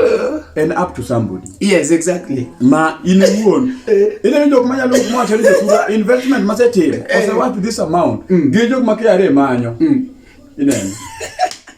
en up to somebody yes exactly ma in iwuon ineno jok manyalo mwacho ni josura investment masetimo osewath this amount mm. gi jok ma KRA manyo mm. ineno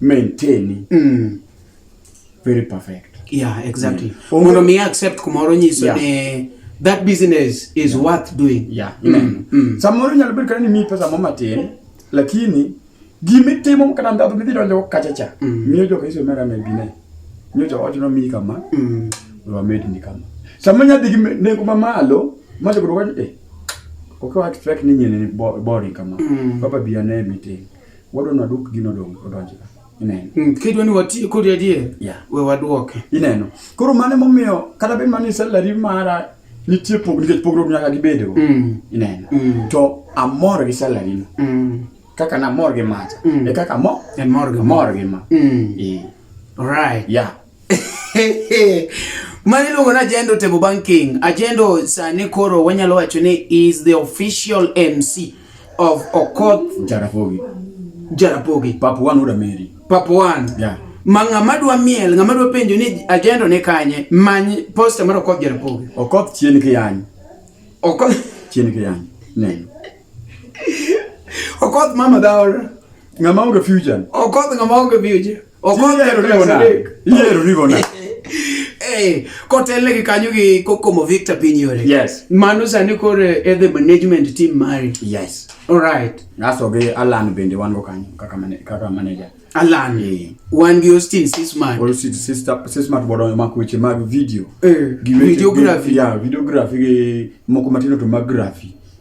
maintain mm. very perfect yeah exactly mm. mondo mi accept kumoro nyiso yeah. ne that business is yeah. worth doing yeah mm. mm. mm. samoro nyalo bedo kata ni mi pesa mama tin lakini gimitimo kata ndhato midhi donjo kachacha mm. miyo joka iso mera me bine miyo joka ochono mi kama mm. wamed ni kama sama nyadhi gi nengo mamalo majo kudoka eh okay what fake ni nyene boring kama mm. baba biya ne meeting Wadwa ni wadwok gino dong' odonj ka. Ineno. Mm, kidwa ni wati kodi adier. Yeah. We wadwoke. Ineno. Koro mano emomiyo kata bed mana ni salary mara nitie pog nikech pogruok nyaka gibedgo. Mm. Ineno. Mm. To amor gi salary no. Mm. Kaka namor gi macha. Mm. E kaka mo. E mor gi mor gi ma. Mm. E. Alright. Yeah. Mani luongo ni Ajendo Table Banking. Ajendo sani koro wanyalo wacho ni is the official MC of Okoth Jarapogi. Jarapogi. Pap one uda meri. Pap one. Yeah. Ma ng'ama dwa miel, ng'ama dwa penjo ni Ajendo ni kanye, many poster mar Okoth Jarapogi. Okoth chien kiyany. Okoth chien kiyany. Neno. Okoth mama daora. Ng'ama onge future. Okoth ng'ama onge future. Okoth ero ribona. Ero ribona. Eh, kotele gi kanyo gi kokomo Victor Pinyore. Yes. Mano sani kore eh, e the management team mari. Yes. All right. Naso gi Alan bende wan go kanyo kaka mane kaka manager. Alan. Eh. Wan gi Austin Sismart. Austin sister Sismart bodo ma kuche mag video. Eh, videography. Yeah, videography gi moko matino to mag graphy.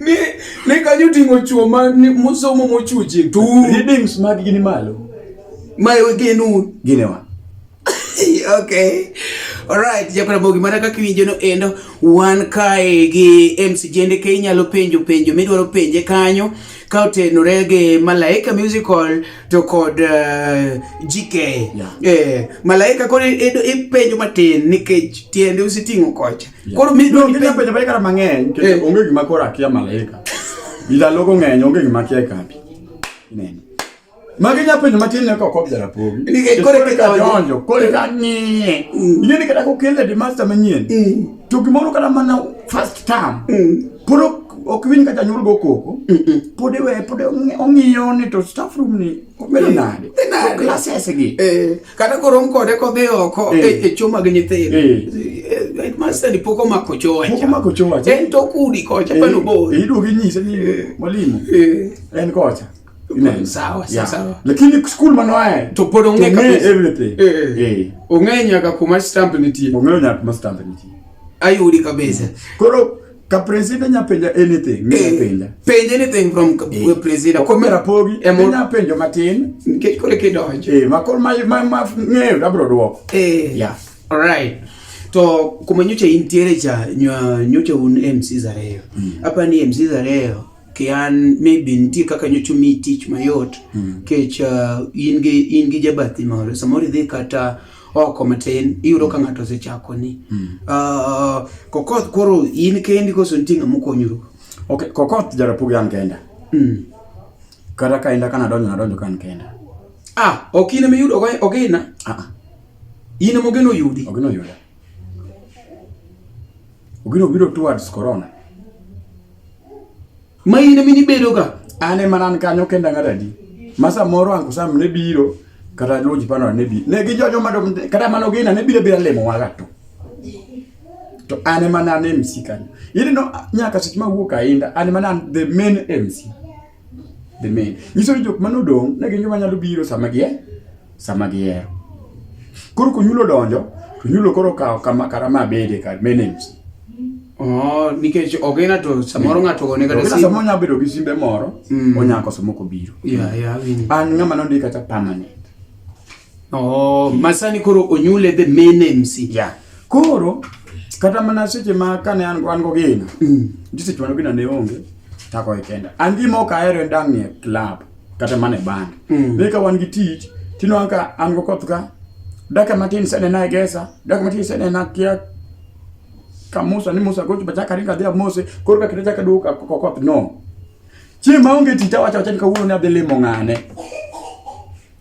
ni ni kanyo tingo chuo ma musomo mochuche tu readings mag gini malo ma genu ginewa okay alright japara bogi mana kaka iwinjo no endo wan kae gi MC Jende ke inyalo penjo penjo midwaro penje kanyo ka otenore gi Malaika Musical to kod uh, eh, GK. Yeah. Eh, Malaika koro ipenjo matin nikech tiende usiting'o kocha. Yeah. Koro mi dong ipenjo penjo Malaika mang'eny nikech eh. onge gima koro akia Malaika. Ila logo ng'eny onge gima akia e kambi. Inene. Magi nya penjo matin ne kok ok jarapogi. Nikech kore kaka jonjo, kore ka ng'iye. Ing'e ni kata kokel lady master manyien. To gimoro kata mana first term. Puro ok winj ka janyuol go koko. Pod iwe pod ong'iyo ni to staff room ni obedo nade. To classes gi. Kata korom kode kodhi oko e choo mag nyithindo. Headmaster ni pok omako choo wacha. Pok omako choo wacha. En to kudi kocha pano bor. Iduogi nyise ni mwalimu. En kocha. sawa yeah. sawa lakini school mano ae to pod ong'e kabisa everything eh, eh. eh. eh. ong'e nyaka kuma stamp nitie ong'e nyaka kuma stamp nitie ayudi kabisa mm. koro ka president nya penja anything ne eh, penja penja anything from eh. president ko mera pogi e mo nya penjo matin nikech kore ke donjo eh ma kor ma ma ma ng'eyo abro duoko eh yeah all right to kuma nyocha intiere cha nyocha un MC Zareo mm. hapa ni MC Zareo kian maybe nitie kaka nyocho mi tich mayot mm. kech uh, in gi in gi jabathi moro samoro idhi kata oko matin iyudo ka ng'ato osechako ni mm. uh, kokoth koro in kendi koso nitie ng'ama okonyuru okay kokoth jarapugi an kenda mm. kata ka inda kana donjo nadonjo kan kenda ah ok in emiyudo ogina ah, ah. in emogeno yudi ogeno yuda Ogino biro towards corona. Ma in emi nibedo ka an ema nan kanyo kenda ngadadi. Ma samoro angu sam ne biro kata luwo ji pano ne bi. Ne gi jojo ma kata mano gina ne biro bira lemo waga to. To an ema nan MC kanyo. Ili no nyaka seche ma wuok ainda an ema nan the main MC. The main. Nyiso ni jok mane odong' ne gin joma nyalo biro sama gi sama gihero. Koro konyulo donjo, to nyulo koro kawo kama kara ma bede kar menames. Oh, nikech ok ina to samoro ng'ato ogone kata simu. Samoro nyalo bedo gi simbe moro, mm. onya koso moko biro. Yeah, yeah, An ng'ama nondika kata permanent. Oh, masani koro onyule the main MC. Yeah. Koro kata mana seche ma kane an wan go gina. Mm. Ndi seche ma gina ne onge tako ikenda. An gi moka ero ndang ne club kata mana band. Mm. Ne ka wan gi tich tino anka an go koth ka. Daka matin sene na egesa, daka matin sene na kia kamusa ni musa gocho bachaka ringa dia mose koro ka kitacha kaduka kokoth no. Chi ma onge tita wacha wacha ni kawuono ne adhi limo ng'ane.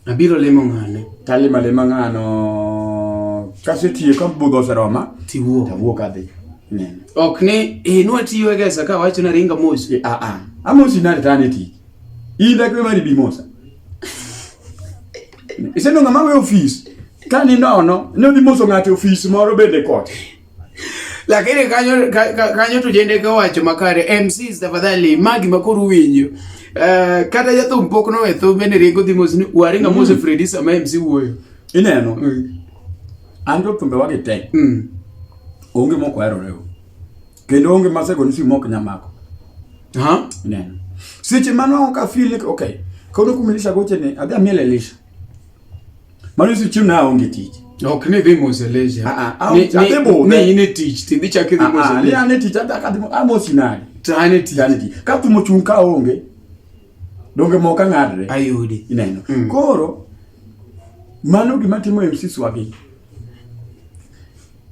Abiro lemo ng'ane? Talima lema ng'ano kasetiyo ka budho oseroma tiwuok awuok adhi nene ok ni eh nwa tiyo e gesa ka wacho na ringa mos e a a amosi nari tani ti in dakwe mari bi mosa iseno ng'ama we ofis ka ni nono ne odhi moso ng'ate ofis moro bende kote Lakini kanyo kanyo tujende ka wacho makare MCs tafadhali magi makuru winyo. Uh, eh, kata jathu mpok no etho bende rigo dhi mos ni waringa mm. mose Freddy sama MC wuoyo. Ineno. Mm. Ando tumbe wagi tek. Mm. Onge moko ero rewo. Kendo onge masego ni si moko nyamako. Ha? Ineno. Seche mano ka feel okay. Kono kumilisha goche ni adhi amiele lisha. Mano si chiemo na onge tich. Ok ni dhi mose leje. Ah ah. Ni ate bo. Ni ine tich, ti dhi chak dhi ah, mose. Ah, ni ane tich ata ka dimo amosi nani. Ta ane tich. Ane tich. Ka tu mochung ka onge. Donge mo ka ngadre. Ayudi. Ineno. Mm. Koro mano gima timo MC Swagi.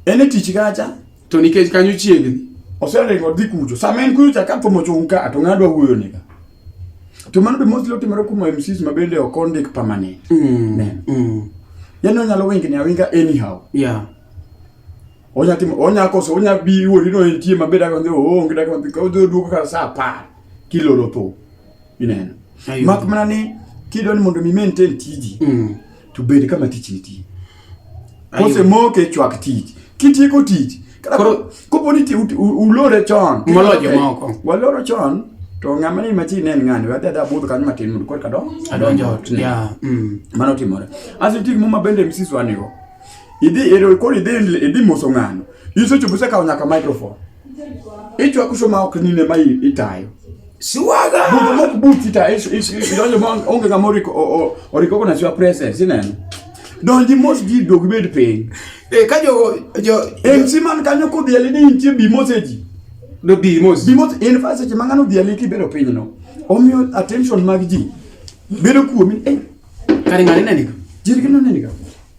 Ene tich gacha to nikech kanyo chiegni. Oseringo dhi kucho. Sama en kucho ka tu mochung ka to ngadwa wuyo nika. to mano be mostly otimore kuom MCs ma bende ok ondik permanent Mm. Ne. Mm. yani onyalo wingni awinga anyhow Yeah. onya timo onya koso onya bi wori no entie maber aka ndio onge dak maber ka odo duoko kar saa apar kiloro tho ineno Ayudo. mak mana ni kidwani mondo mi maintain tiji Mm. to bed kama tich nitie. Kosemoke e chwak tich, kitieko tich Koro kopo ni ulore chon. Molo jomoko. Waloro chon to ng'ama ni machi ne en ng'ani wadhi adhi abudh kanyo matin mondo korka do adonjo ot yeah. mm. mano timore aso nitie gimoro mabende msis wanigo idhi ero koro idhi idhi moso ng'ano isechopo isekawo nyaka microphone Itwa kusoma okunine mai itayo. Siwaga. Bubu mo buti ta isu isu isu donjo mo onge kama oriko oriko kuna siwa presence ineno. Donji mos ji dogi bed piny. E ka jo jo en siman kanyo ko bieli ni intie bi moseji. Do bi mos. Bi mos en fa seche mangano bieli ki bedo piny no. Omiyo attention mag ji bedo kuomi. Eh. Kare ngani nani? Jirgino nani ka?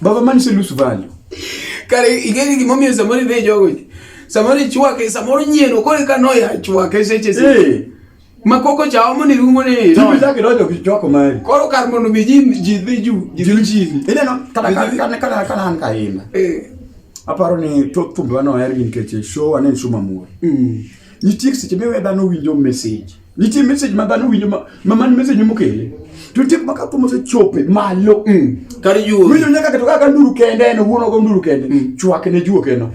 Baba man se lose value. Kare igeni gimomiyo samoro be jogo. Samoro ichwake, samoro nyieno kore ka noya chwake seche seche. Hey. Eh. Makoko cha omo ni rungo ni. Tibi zake dojo kichwako mali. Koro kar mondo mi ji ji dhi ju, ji dhi ji. Ile no kada kada kada kada han kainda. Eh. Aparo ni to thumbe wano er nikech show anen show mamor. Mm. Nitie seche miwe dhano winjo message. Nitie message ma dhano winjo ma ma man message mokele. To nitie kuma ka thum osechope malo. Mm. Kar yuo. Winjo nyaka keto kaka nduru kende en owuon ogo nduru kende. Mm. Chwak ne juo keno.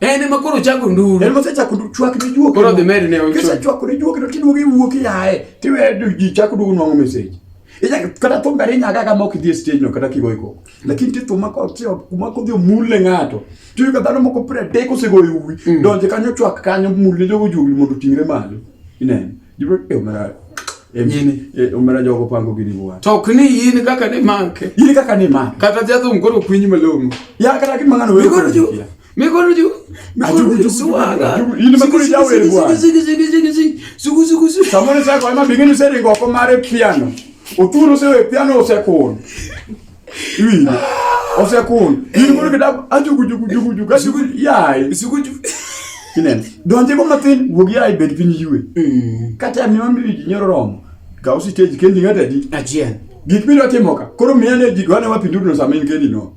En ema koro chako nduru. En mose chako nduru chwak ne juo keno. Koro dhi medo ne ocho. Kisa chwak ne juo keno tiduogo iwuok iaye. Tiwe ji chako duogo nwang'o message. Ija kata thum gari nyaga kama ok idhi e stage no kata kigoiko. lakini ti thuma kuma kodhi omulle ng'ato tiyo ka dhano moko pre tek osegoyo uwi mm. donje kanyo chwak kanyo mulle jogo juli mondo ting're malo ineno jibro e omera yini e, omera jogo pango gini bwa to ok ni yini kaka ni make yini kaka ni make kata jathum koro kwinyi malong'o ya kata gimang'ano wewe samone sako ema bingini seringo ko mare piano oturo sewe piano osekun iwinjo osekun in koro kitabu ajugujugujugujugu yayi kineno donje go mathin wuog yayi bed piny ywe mm. kata miwa miwi ji nyoro romo kaw siteji kendi ng'atadi achiel gik midwa timo ka koro miya ne ji dwane wapindurno sama in kendi no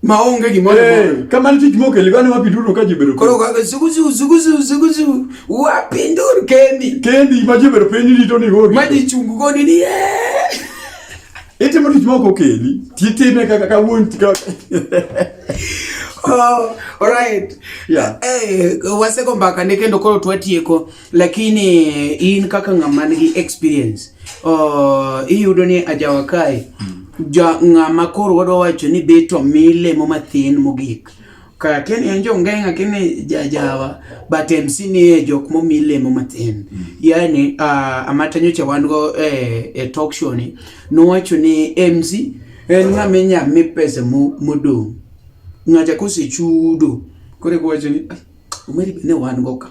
Ma onge gimoro. Hey, kama nitie gimoro kele gani wapi duro ka jibedo. Koro kaka zuguzu zuguzu zuguzu wapi ndur kendi. Kendi ma jibedo penyi ni to ni gori. Ma ji chungu goni ni. Itimo tich ma ok okeli. Titime kaka ka wuon tika. Oh, all right. Yeah. Eh, hey, waseko mbaka ne kendo koro twatieko. Lakini in kaka ng'ama nigi experience uh, iyudo ni ajawa kae mm. ja ng'ama koro wadwa wacho ni beto milemo mathin mogik kakeni en jongeng'a kini jajawa but MC nie jok momi lemo matin mm. yani uh, amata nyocha wan go eh, e talk show ni nowacho ni MC en ng'ama inya mi pesa modong' ng'acha kosechudo koro ekuwacho ni ah, omeri ne wan go ka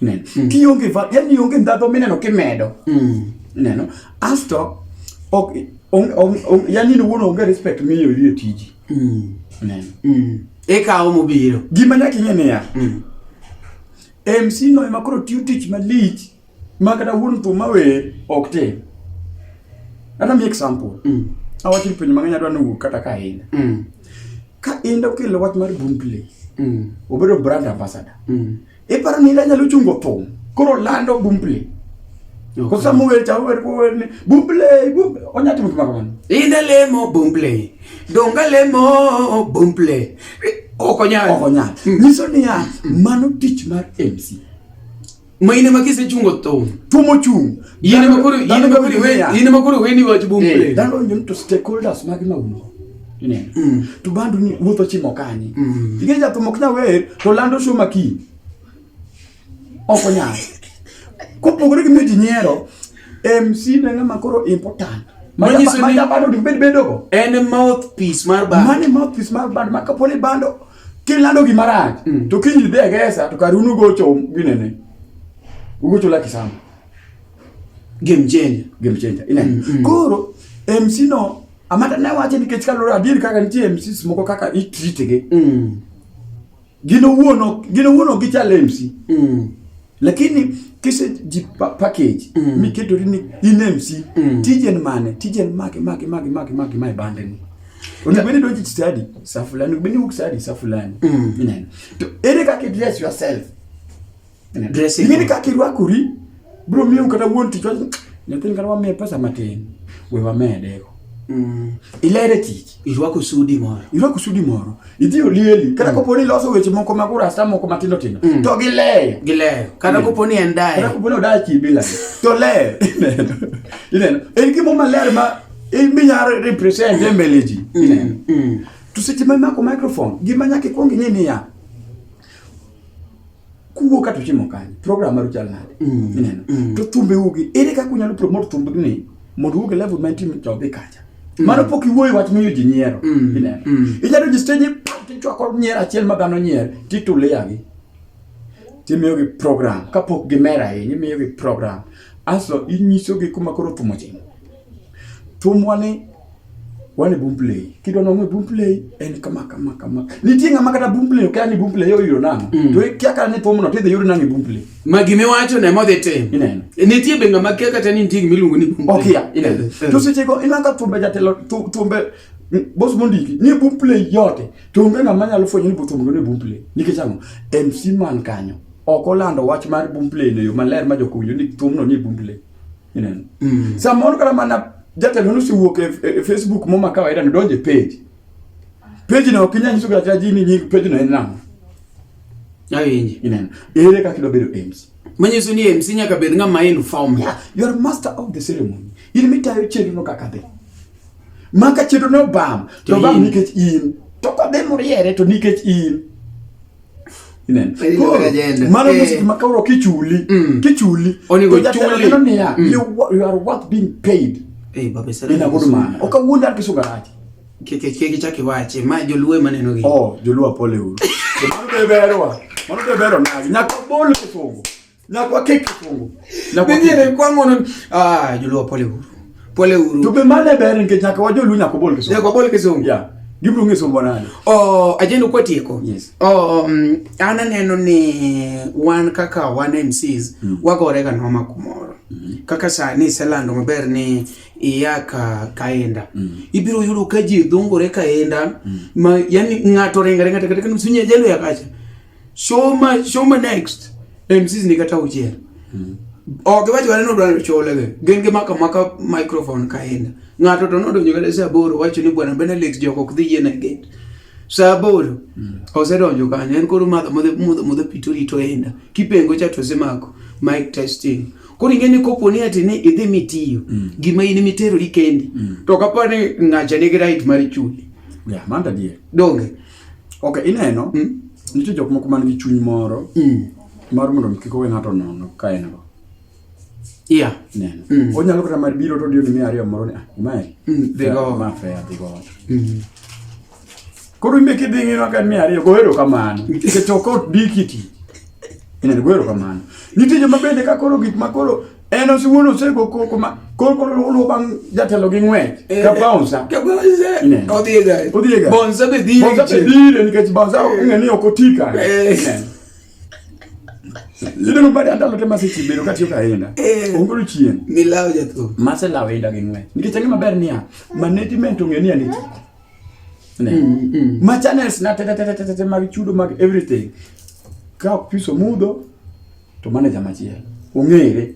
Ineno? Mm. Kionge va, yani onge ndhadho mineno kimedo. Mm. Ineno? Asto ok on, on, on, yani ni wuon onge respect miyo yie tiji. Mm. Ineno? Mm. Ikawo mobiro. Gima nyaka ing'e niya. Mm. MC no ema koro tiyo tich malich ma kata wuon thum mawer ok tim. Kata mi example. Mm. Awacho ni penjo mang'eny adwa ni wuok kata ka ahinya. Mm. Ka in dokelo wach mar Boomplay. Mm. Obedo brand ambassador. Mm. Iparo ni ila nyalo chungo thum. Koro lando bumble. Ko sama wer cha wer ko wer ni bumble bumble onya timo kama kamano. Ina lemo bumble. Donga lemo bumble. Okonya. Okonya. Hmm. Niso ni ya mano tich mar MC. Maine makise chungo thum. Tumo chung. Yine makuru yine makuru we yine makuru we ni wach bumble. Eh, Dalo nyum to stakeholders mag mauno. Ineno. Mm. To bando ni wuotho chimo kanye. Mm. Tige jathum ok nyal wer to lando show maki. Ok onyal. Kopogore gi miyo ji nyiero, MC ne ng'ama koro important. Manyiso ni- Manja bando dibed bedogo. En e mouthpiece mar bando. Mane mouthpiece mar bando ma kaponi bando kilando gima rach Mm. to kiny idhi e gesa to kar unu gocho ginene. Ugocho la kisama. Game changer. game changer ineno Mm, mm. koro mc no Amanda ne wacho nikech kaluwore adier kaka nitie MCs moko kaka itritigi mm. gin owuon ok gichal MC mm. lakini kise ji package mm. miketori ni in MC mm. tijen mane tijen mage mage mage mage mage mae bande ni onego bende donji study sa fulani onego bende wuok study sa fulani mm. ineno to ere kaka address yourself Ing'e ni kaka irwakori biro miyo kata wuon tich wacho nyathini kata wamiye pesa matin we wamedego. Mm. Ilere tich. Irwako sudi moro. Irwako sudi moro. Idhi olieli. Kata mm. kopo ni loso weche moko mag urasta moko matindo tindo. Mm. To gileyo. Gileyo. Kata mm. kopo ni en dayo. Kata kopo ni odayo chi bila. To leyo. Ineno. Ineno. En gimo maler ma iminya represent e mbele ji. Mm. Ineno. Mm. To seche ma imako microphone, gima nyaka ikwong ing'e niya, kuwuo kata uchimo kanye program maru chal nade mm. ineno mm. to thumbe ugi ere kaka unyalo promote thumbe ni mondo uwuog e level ma intie to dhi kacha mm. mano pok iwuoyo wach miyo ji nyiero mm. ineno mm. inyalo ji stage tichwako nyier achiel ma dhano nyier tituleyagi timiyogi program kapok gimer ahinya imiyogi program aso inyisogi kuma koro thum ochimo Thumwa ni wan e Boomplay. Kidwa nong'e Boomplay en kama kama kama. Nitie ng'ama kata Boomplay okia ni Boomplay oyudo nang'o. Mm. To ikia kata ni thumno tidhi yud nang'o e Boomplay. Ma gima iwacho ne modhi tim. Ineno. E, nitie be ng'ama kia kata ni nitie gima iluongo ni Boomplay. Okia, ineno. Eh, eh. To sechego ineno ka thumbe jatelo thumbe boss mondiki ni boom play yote to onge ng'ama nyalo fwenyo ni botum ni boom play nikech ang'o MC man kanyo ok olando wach mar boom play no yo maler ma jokowinjo ni thumno ni boom play ineno mm. samoro kata mana jatelo nosiwuok e, e, e facebook moma kawaida nodonjo e page page no ok inyal nyiso kata ji ni nying page no en nang'o awinji ineno ere kaka idwa bedo MC manyiso ni MC nyaka bed ng'ama in form yeah, you are master of the ceremony in mitayo chenro no kaka dhi maka chenro no bam to bam nikech in to kodhi moriere to nikech in Mano eh. music makoro kichuli, mm. kichuli. Onego chuli. Onego niya, mm. you are worth being paid. Eh, babe sara. Ina good man. Oka wuonda kisu garaji. Keke keke chaki wache, ma joluwe maneno gi. Oh, joluwa pole uru. Mano be berwa. Mano be bero nagi. Nyaka bolo kifungo. Na kwa keki tu. Na kwa keki. Mimi kwa ngono. Ah, juluo pole huru. Pole huru. Tupe mane bere nke chaka wajo lunya kwa bole kisungu. Ya kwa bole kisungu. Ya. Yeah. Gibru ngi somo nani? Oh, ajeni kwa tieko. Yes. Oh, um, ana neno ni wan kaka wan MCs mm. wako orega noma kumoro. Mm -hmm. Kaka saa ni selando maber ni iyaka kaenda mm. ibiro yudo ka ji dhungore kaenda mm. ma yani ng'ato ringa ringa tekateka nusunye jalo yakacha Soma soma next. MCs ni kata ujier. Mm. Ok wacho wale nodwaro chole ge. Gen ge maka maka microphone kaenda. Ng'ato to nodonjo kata saa aboro wacho ni bwana Benelix jok ok dhi yien e gate. Saa aboro mm. osedonjo kanyo en koro madho modhe modhe modhe pito rito enda. Kipengo cha to semako mic testing. Mm. Koro ing'e ni kopo ni ati ni idhi mitiyo mm. gima in miterori kendi mm. to kapo ni ng'acha nigi right mar chuli. Yeah, manda die. Donge. Ok, ineno, Mm. nitie jok moko man gi chuny moro Mm. mar mondo kik owe ng'ato nono ka en go. Yeah. Ineno. Mm. Onyalo kata mar biro to odiyo ni miya ariyo moro ni, ah, imaeri. Mm, dhi go. Ma fair, dhi go. Mm. Koro imbe kidhi ng'ino ka en miya ariyo, goero kamano. Nikech ok odiki ti. Ineno, goero kamano. Nitie joma bende ka koro gik ma koro en osiwuon osego koko ma koko luwo bang' jatelo gi ng'wech eh, ka bonsa ka bonsa odhi e gari odhi e gari bonsa be dhire bonsa be dhire nikech bonsa eh. ong'e ni ok oti ka Yideno eh. bade andalo te mase chimbe no katiyo kaenda. Ongoro chien. Milawo jatho. Mase lawo enda gi ng'wech. Nikech ang'e maber niya, management ong'e ni aniti. Ne. Mm, mm. Ma channels na te te te te te mag chudo mag everything. Ka ok piso mudho, To mane jama chiel. Ong'ere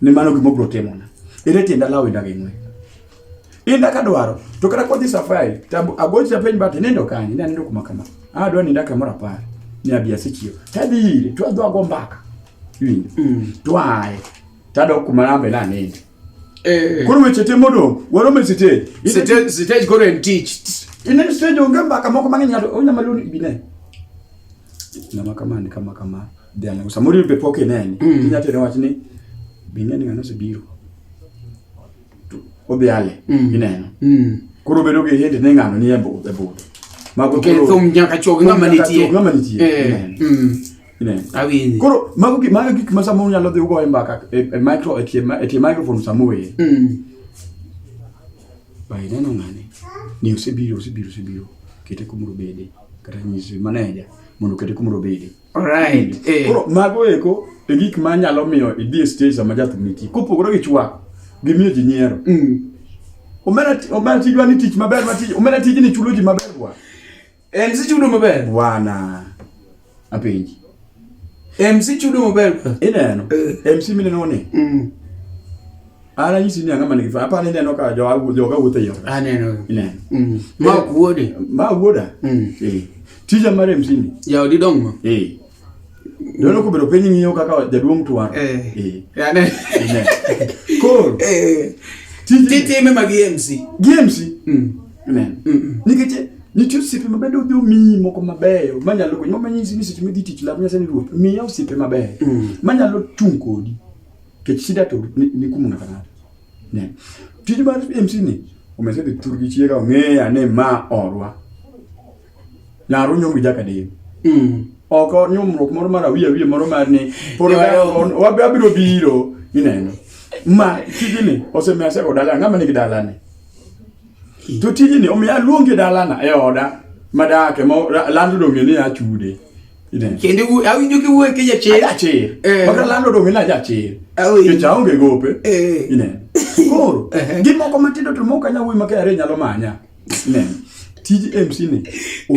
ni mano gima obro timo na. Ere tienda lawo inda gi ng'we. Inda ka dwaro to kata kodhi safari to agocha penj bati nindo kanye na nindo kuma kama. Ah dwa ninda kamoro apar. Ni abia sichio. Tadhi ire to adwa go mbaka. Mm. Twaye. Tadok kuma nambe na ninde. Eh. Koro weche te modong' warom e sitej. Sitej sitej koro en tich. Ine sitej onge mbaka moko mang'eny ng'ato onyama luni bine. Ng'ama kama ni kama kama. Dhiang' samoro ibe pok ineni. Mm. Inya tere wach ni bine ni ng'ano osebiro. Odhi ale mm. ineno. Mm. Koro bedo gi hit ni ng'ano ni e budho. E Mago koro. Kethum nyaka chog ng'ama nitie. Ng'ama nitie. Eh. awinji koro mago gik mago gik ma samoro nyalo dhi ugo e mbaka e e micro e tie ma- e tie microphone samoro e Mm. bai neno ng'ane ni osebiro osebiro osebiro kete kumoro bede kata nyisi maneja mondo kete kumoro bede alright eh koro mago eko e gik ma nyalo miyo idhi e stage sama jathum nitie kopogore gi chwako gi miyo ji nyiero Mm. omera ti- omera tijwa ni tich maber ma tij omera tijni chulo ji maber kwa MC chudo maber. Wana. Apenji. MC chudo maber. Ineno. Eh. MC mineno ni. Mm. Ara nyisi ni anga manigi fa. Apa neno ka jo agu jo ka wuotho yo. Aneno. Ineno. Mm. Ma eh. wuode. Ma wuoda. Mm. Eh. Tija mar MC ni. Ya odi dong ma. Eh. Dono kubedo penyi ng'iyo kaka jaduong' twar. Eh. Eh. Yani. Koro. Eh. Titi me magi MC. GMC. Mm. Amen. Mm. mm. Nikech nitie osiepe mabedo odhi omiyi moko mabeyo manyalo konyi mama nyisi ni seche midhi tich lab nyasaye ni ruoth miya osiepe mabeyo mm. manyalo chung' kodi kech shida to ni kumu ng'ato ng'ato ne tij mar MC ni omesedhi thurgi chiega ong'eya ni ma orwa Laro nyong gi jaka dei. Mm. Oko nyumruok moro mar awiye awiye moro mar ni poro wabiro biro ineno. Ma tijini osemiya seko dala ng'ama nigi dala ni. To tijini omiya aluongi dalana e oda madake ma lando donge ni achude. Kende u awinjo ki wuoyo ki jachir. Jachir. Eh. Maka lando donge ni ajachir. Awinjo. Kecha onge gope. Eh. Ineno. Koro, eh. gimoko matindo to moko anya wuoyo makare nyalo manya. tij MC ni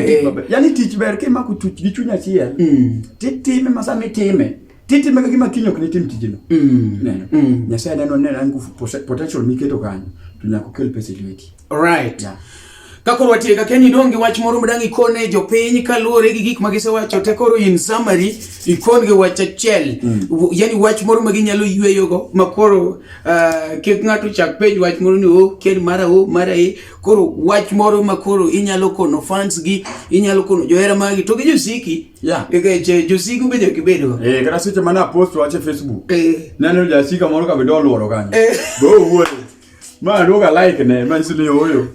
eh. yani tich ber kimako chuch gi chuny achiel mm. titime ma sama itime titime gima kiny ok nitim tijino mm. mm. nyasaye neno ne an nguvu potential miketo kanyo to nyaka okel pesa e lweti right yeah. Kakoro watie ka Kenya idong' gi wach moro madang' ikone jopiny kaluwore gi gik ma gisewacho te koro in summary ikon gi wach achiel mm. yani wach moro ma ginyalo yweyogo ma koro Uh, kik ng'ato chak pej wach moro ni o oh, ker mara o oh, mara e koro wach moro ma koro inyalo kono fans gi inyalo kono johera magi to gi josiki yeah. nikech josiki ubedo kibedo eh, kata seche mane apost wach e facebook eh. naneno jasika moro kabedo oluoro kanyo eh. bo owuoyo ma aduoga like ne manyiso ni ooyo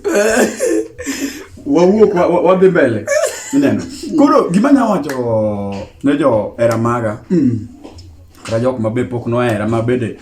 wawuok wadhi mbele ineno koro gima nya wacho ne johera maga mm. kata jok mabe pok nohera ma bende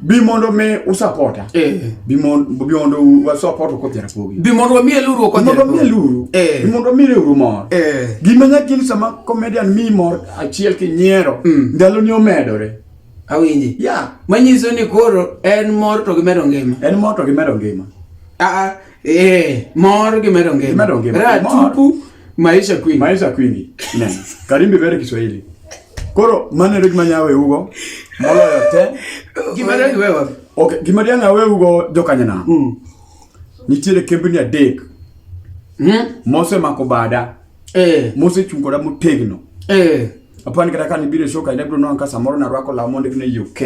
bi mondo mi usapota eh. bi mondo wasapota kod jarapogi bi mondo wamiye luru kod mondo wamiye luru eh. bi mondo wamiye luru mor eh. gima nyaki ni sama comedian mi mor achiel ki nyiero mm. ndalo ni omedore awinji ya yeah. manyiso ni koro en mor to gimedo ngima en mor to gimedo ngima a ah, a ah. Eh, mor gi medo ngima. Medo ngima. Ra tupu maisha kwingi. Maisha kwingi. Ne. Karimbi bere Kiswahili. Koro mane rig manyawe ugo. Moloyo te. Gima rig wewe. Okay, gima rig anyawe ugo jokanyana. Mm. Nitiere kembni adek. Mm. Mose mako bada. Eh. Mose chung koda motegno. Eh. Apani kata kan ibiro shoka ile bro non ka samoro na rwako la mondo ne UK.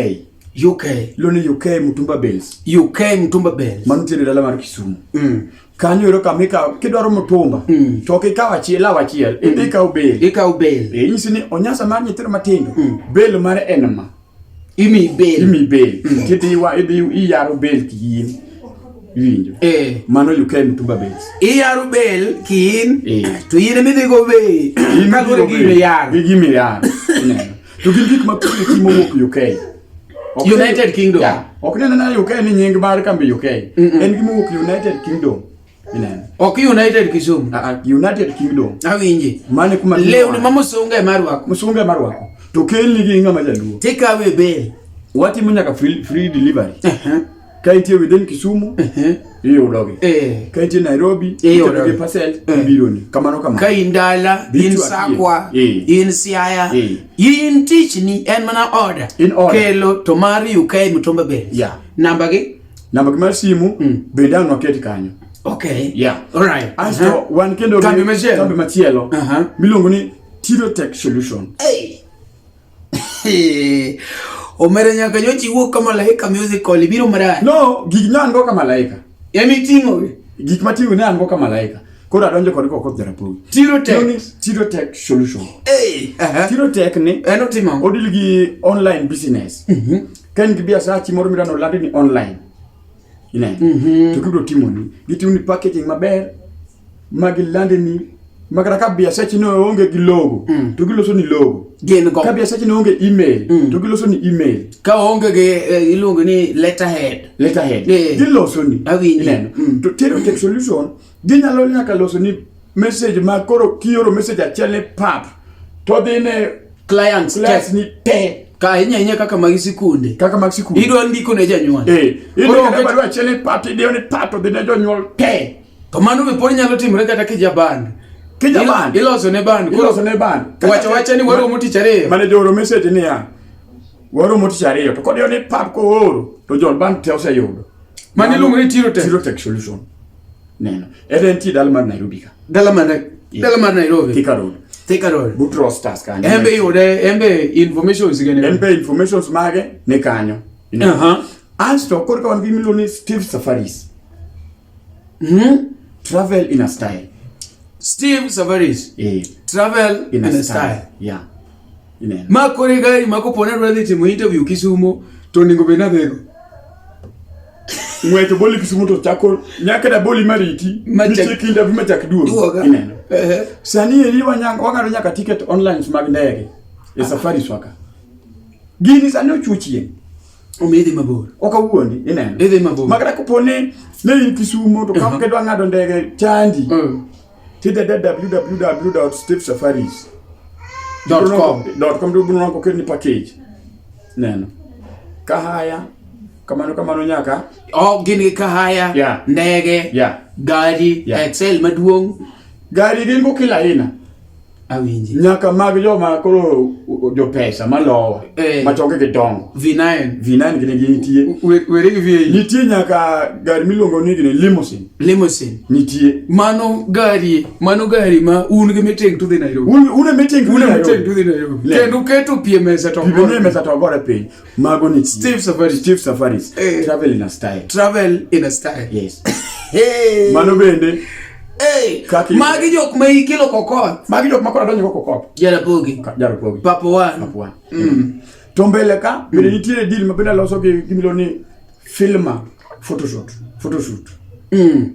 UK. Loni UK Mutumba Bells. UK Mutumba Bells. Mano tiere dala mar Kisumu. Mm. Kanyo ero kama ikawo kidwaro mutumba mm. to ok ikawo achiel law achiel mm. ikawo bel. Ikawo bel. E nyisi ni onyasa mar nyithindo matindo mm. bel mare en ma. Imi bel. Imi bel. Mm. Kidhi wa idhi iyaro bel kiyin. Iwinjo. Eh. Mano UK Mutumba Bells. Iyaro bel kiyin. Eh. To in midhi go bel. Kaluwore gi gimiyaro. Gi gimiyaro. To gin gik ma pile timo wuok UK. Ok ni- United Kingdom. Yeah. Ok ni nena UK ni nying mar kambi UK. En gima wuok United Kingdom. Ineno. ok united kisumu Ah, ah, United Kingdom. awinji Mane kuma lewni ma musunga ema rwako musunge marwako. To kelni gi ng'ama jaluo. tikawe bel Watimo nyaka free, free delivery. Ehe. ka itie within Kisumu ehe iyudogi eh ka itie Nairobi Iyudogi. iyudogi parcel Eh. ibironi kamano kamano ka in dala Bichu in atiye. sakwa Eh. in siaya Eh. in tichni en mana order In order. kelo to mari ukae mitomba be Yeah. namba gi namba gi mar simu Mm. bende ang' waket kanyo okay Yeah. all right asto Aha. wan kendo gi Kambi machielo. kambi machielo Aha. miluongo ni Tirotech Solution hey Omera nyaka nyochi wuok ka malaika musical ibiro maraya. No, gik na ndo ka malaika. Yami e tingo. Gik matingo ne an go ka malaika. Koro adonjo kod koko jarapowi. Tiro tech. Tiro tech solution. Hey. Uh -huh. Tiro tech ni. Eno eh, timo. Odil gi online business. Mhm. Mm Ken gi biasa chi moro mirano landi ni online. Ine. Mhm. Mm to kibro timo ni. Gitimo ni packaging maber. ma gilande ni ma kata ka biasechi ne onge gi logo Mm. to giloso ni logo gin go ka biasechi ne onge email Mm. to giloso ni email ka onge gi eh, iluongo ni letterhead letterhead Eh. giloso ni Awinji. ineno Mm. to tero tech solution ginyalo nyaka loso ni message ma koro kioro message achiel ni pap to dhi ne clients class test ni te ka ahinya ahinya kaka mag sikunde kaka mag sikul idwa ndiko ne janyuol eh Koro idwa onge- barua achiel ni pap to idhi ne pap to dhi ne jonyuol te To mano be pod nyalo timore kata kija band. Kija band. Iloso ne band. Iloso ne band. Wacha wacha ni waro moti chare. Mane joro message ni ya. Waro moti chare to kod yo ni pap ko oro to jol band te oseyudo. Mane luongo ni Tiro Tech. Tiro Tech solution. Neno. Ere en ti dal mar Nairobi ka. Dal mar Nairobi. Dal mar Nairobi. Thika Road. Thika Road. Butro Stars kanyo. Embe yude embe information sigene. Embe informations mage ne kanyo. Aha. Uh -huh. Asto korka wan gi miloni Steve Safaris. Mm -hmm. Travel in a style. Steve Savaris. Eh. Travel in, in a, a style. style. Yeah. Ineno. Ma kore gari ma kopone dwa dhi timo interview Kisumo to ningo be na dhego. Ng'weto boli Kisumo to chako nyaka da boli mariti. Ma chak interview ma chak duogo. Ineno. Eh. Sani eri wanyanga wang'ado nyaka ticket online mag ndege. E ah. safari swaka. Gini sani ochuchie. Omidhi mabor. Ok awuondi, ineno. Idhi mabor. Makata kopo ni ne in Kisumo to kama kedwa ng'ado ndege chandi. Mm. Tidede www.stevesafaris.com. Dot com to bunwa ko kedni package. Neno. Kahaya kamano kamano nyaka oh gin gi kahaya yeah. ndege yeah. gari yeah. excel maduong' gari gin go kila aina Awinji. Nyaka mag joma koro jo pesa malowa eh. ma choke gidongo. V9. V9 gine gi nitie. Were gi V8. Nitie nyaka gari miluongo ni gine limousine. Limousine. Nitie. Mano gari, mano gari ma un gi meeting to dhi Nairobi. Un un meeting to dhi Nairobi. Kendo keto pie mesa to gore. Pie mesa to gore piny. Mago ni Steve Safari. Steve Safari. Hey. Eh. Travel in a style. Travel in a style. Yes. hey. Mano bende. Hey. Kaki. Magi jok ma ikelo kokot. Magi jok ma kora donjo kokot. Jara pogi. Jara pogi. Papo wan. Papo wan. Mm. mm. To mbele ka mm. bende nitiere deal ma bende aloso gi gimilo ni filma photoshoot. Photoshoot. Mm.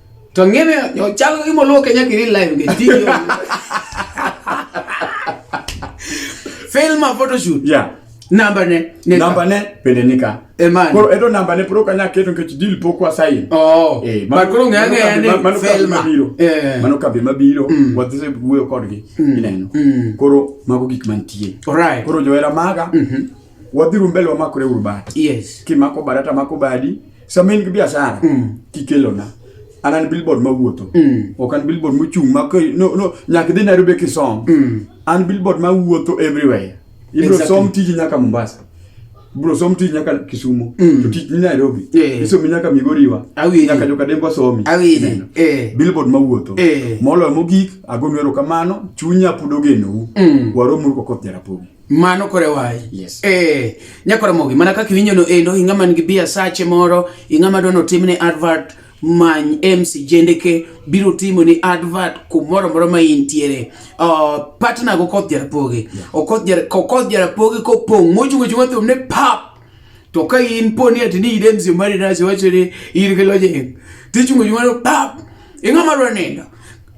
To ng'eme yo chalo gi moluo Kenya kiri live nge ti. Film a photo shoot. Yeah. Namba ne. ne Namba ne pende nika. Emani. Koro edo namba ne puro kanya keto nkechi deal poko asayi. Oh. Eh, man, koro ng'e ng'e ni mano film mabiro. Eh. Mano kabe mabiro. Mm. What this wuyo kodgi. Mm. Ineno. Mm. Koro mago gik mantie. Alright. Koro joera maga. Mm -hmm. wadhiru mbele wamakore uru bat yes. kimako bada tamako badi sama in gi biashara mm. kikelona an an billboard mawuotho mm. ok an billboard mochung' ma no, no, nyaka idhi nairobi kisom mm. an billboard mawuotho everywhere ibiro exactly. som tiji nyaka mombasa bro som tich nyaka Kisumu mm. to tich ni Nairobi yeah. isomi nyaka Migoriwa Awini. nyaka joka dembo somi Awini. Eh. billboard mawuotho eh. moloyo mogik ago nwero kamano chunya pod ogenou mm. waromuru kokoth jarapogi mano kore wayi yes. eh, nyakora mogi mana kaka iwinjo no endo ing'a man gi bia sache moro ing'a ma dwano timne advert many MC Jendeke biro timo ni advert kumoro moro ma intiere uh, partner go koth jarapogi okoth yeah. kokoth jarapogi kopong' mochungo chungo thum ne pap to ka in poni ati ni idem si mari nasi wacho ni in gi lojeng tichungo chungo no pap ing'a ma dwa nindo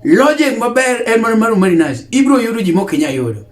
lojeng maber en mana mar mari nasi ibiro yudo ji mok inya yudo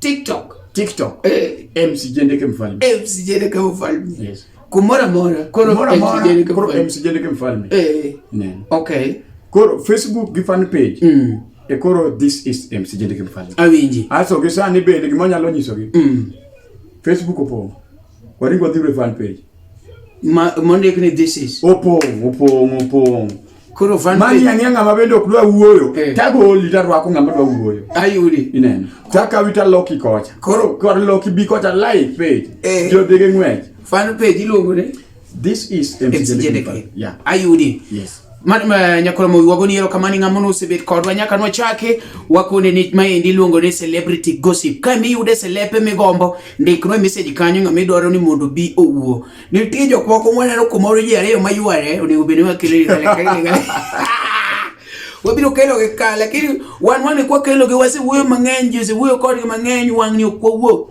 TikTok. TikTok. Eh. MC Jendeke Mfalme. MC Jendeke Mfalme. Yes. Kumora mora. Koro mora mora. Koro MC Jendeke Mfalme. Eh. Nen. Okay. Koro Facebook gi fan page. Mm. E koro this is MC Jendeke Mfalme. Awinji. Aso gisani bende gimonyalo nyisogi. Mm. Facebook opong'. Waring wadhi e fan page. Ma mondik ni this is. Opong, opong, opong. Koro fan page. Mani ang'e ng'ama bende ok dwa wuoyo. Eh. Tagoli tarwako ng'ama dwa wuoyo. Ayudi. Ineno. Takawi taloki kocha. Koro kor loki bi kocha live page. Eh. Jodhige ng'wech. Fan page iluongo ni. This is MCJDK. Yeah. Ayudi. Yes. Man, ma, nyakoro mo wago ni erokamani ng'ama nosebet kodwa nyaka nwachake wakone ni maendi iluongo ni celebrity gossip ka mi yude selepe migombo ndiknwa message kanyo ng'ama idwaro ni mondo bi owuo nitie jok moko mwaneno kumoro ji ariyo mayware onego bed ni wakelo ni kalekale wabiro kelo gi ka lakini wan wane kwa kelo gi wasewuoyo mang'eny ji osewuoyo kodgi mang'eny wang'ni ok wawuo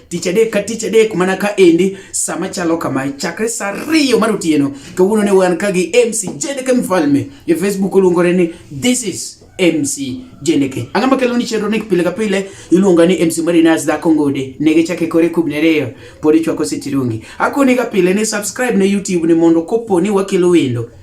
tich adek ka tich adek mana ka endi sama chalo kama chakre sa ariyo mar otieno kawuono ne wan ka gi mc jeneke mfalme e facebook oluongore ni this is MC Jeneke. Ang'a makelo ni chenro ni pile ka pile iluonga ni MC Marinas da Kongode. Nege chake kore kubne reyo podi chwako sitirungi. Akoni ka pile ni subscribe na YouTube ni mondo kopo ni wakelo wendo.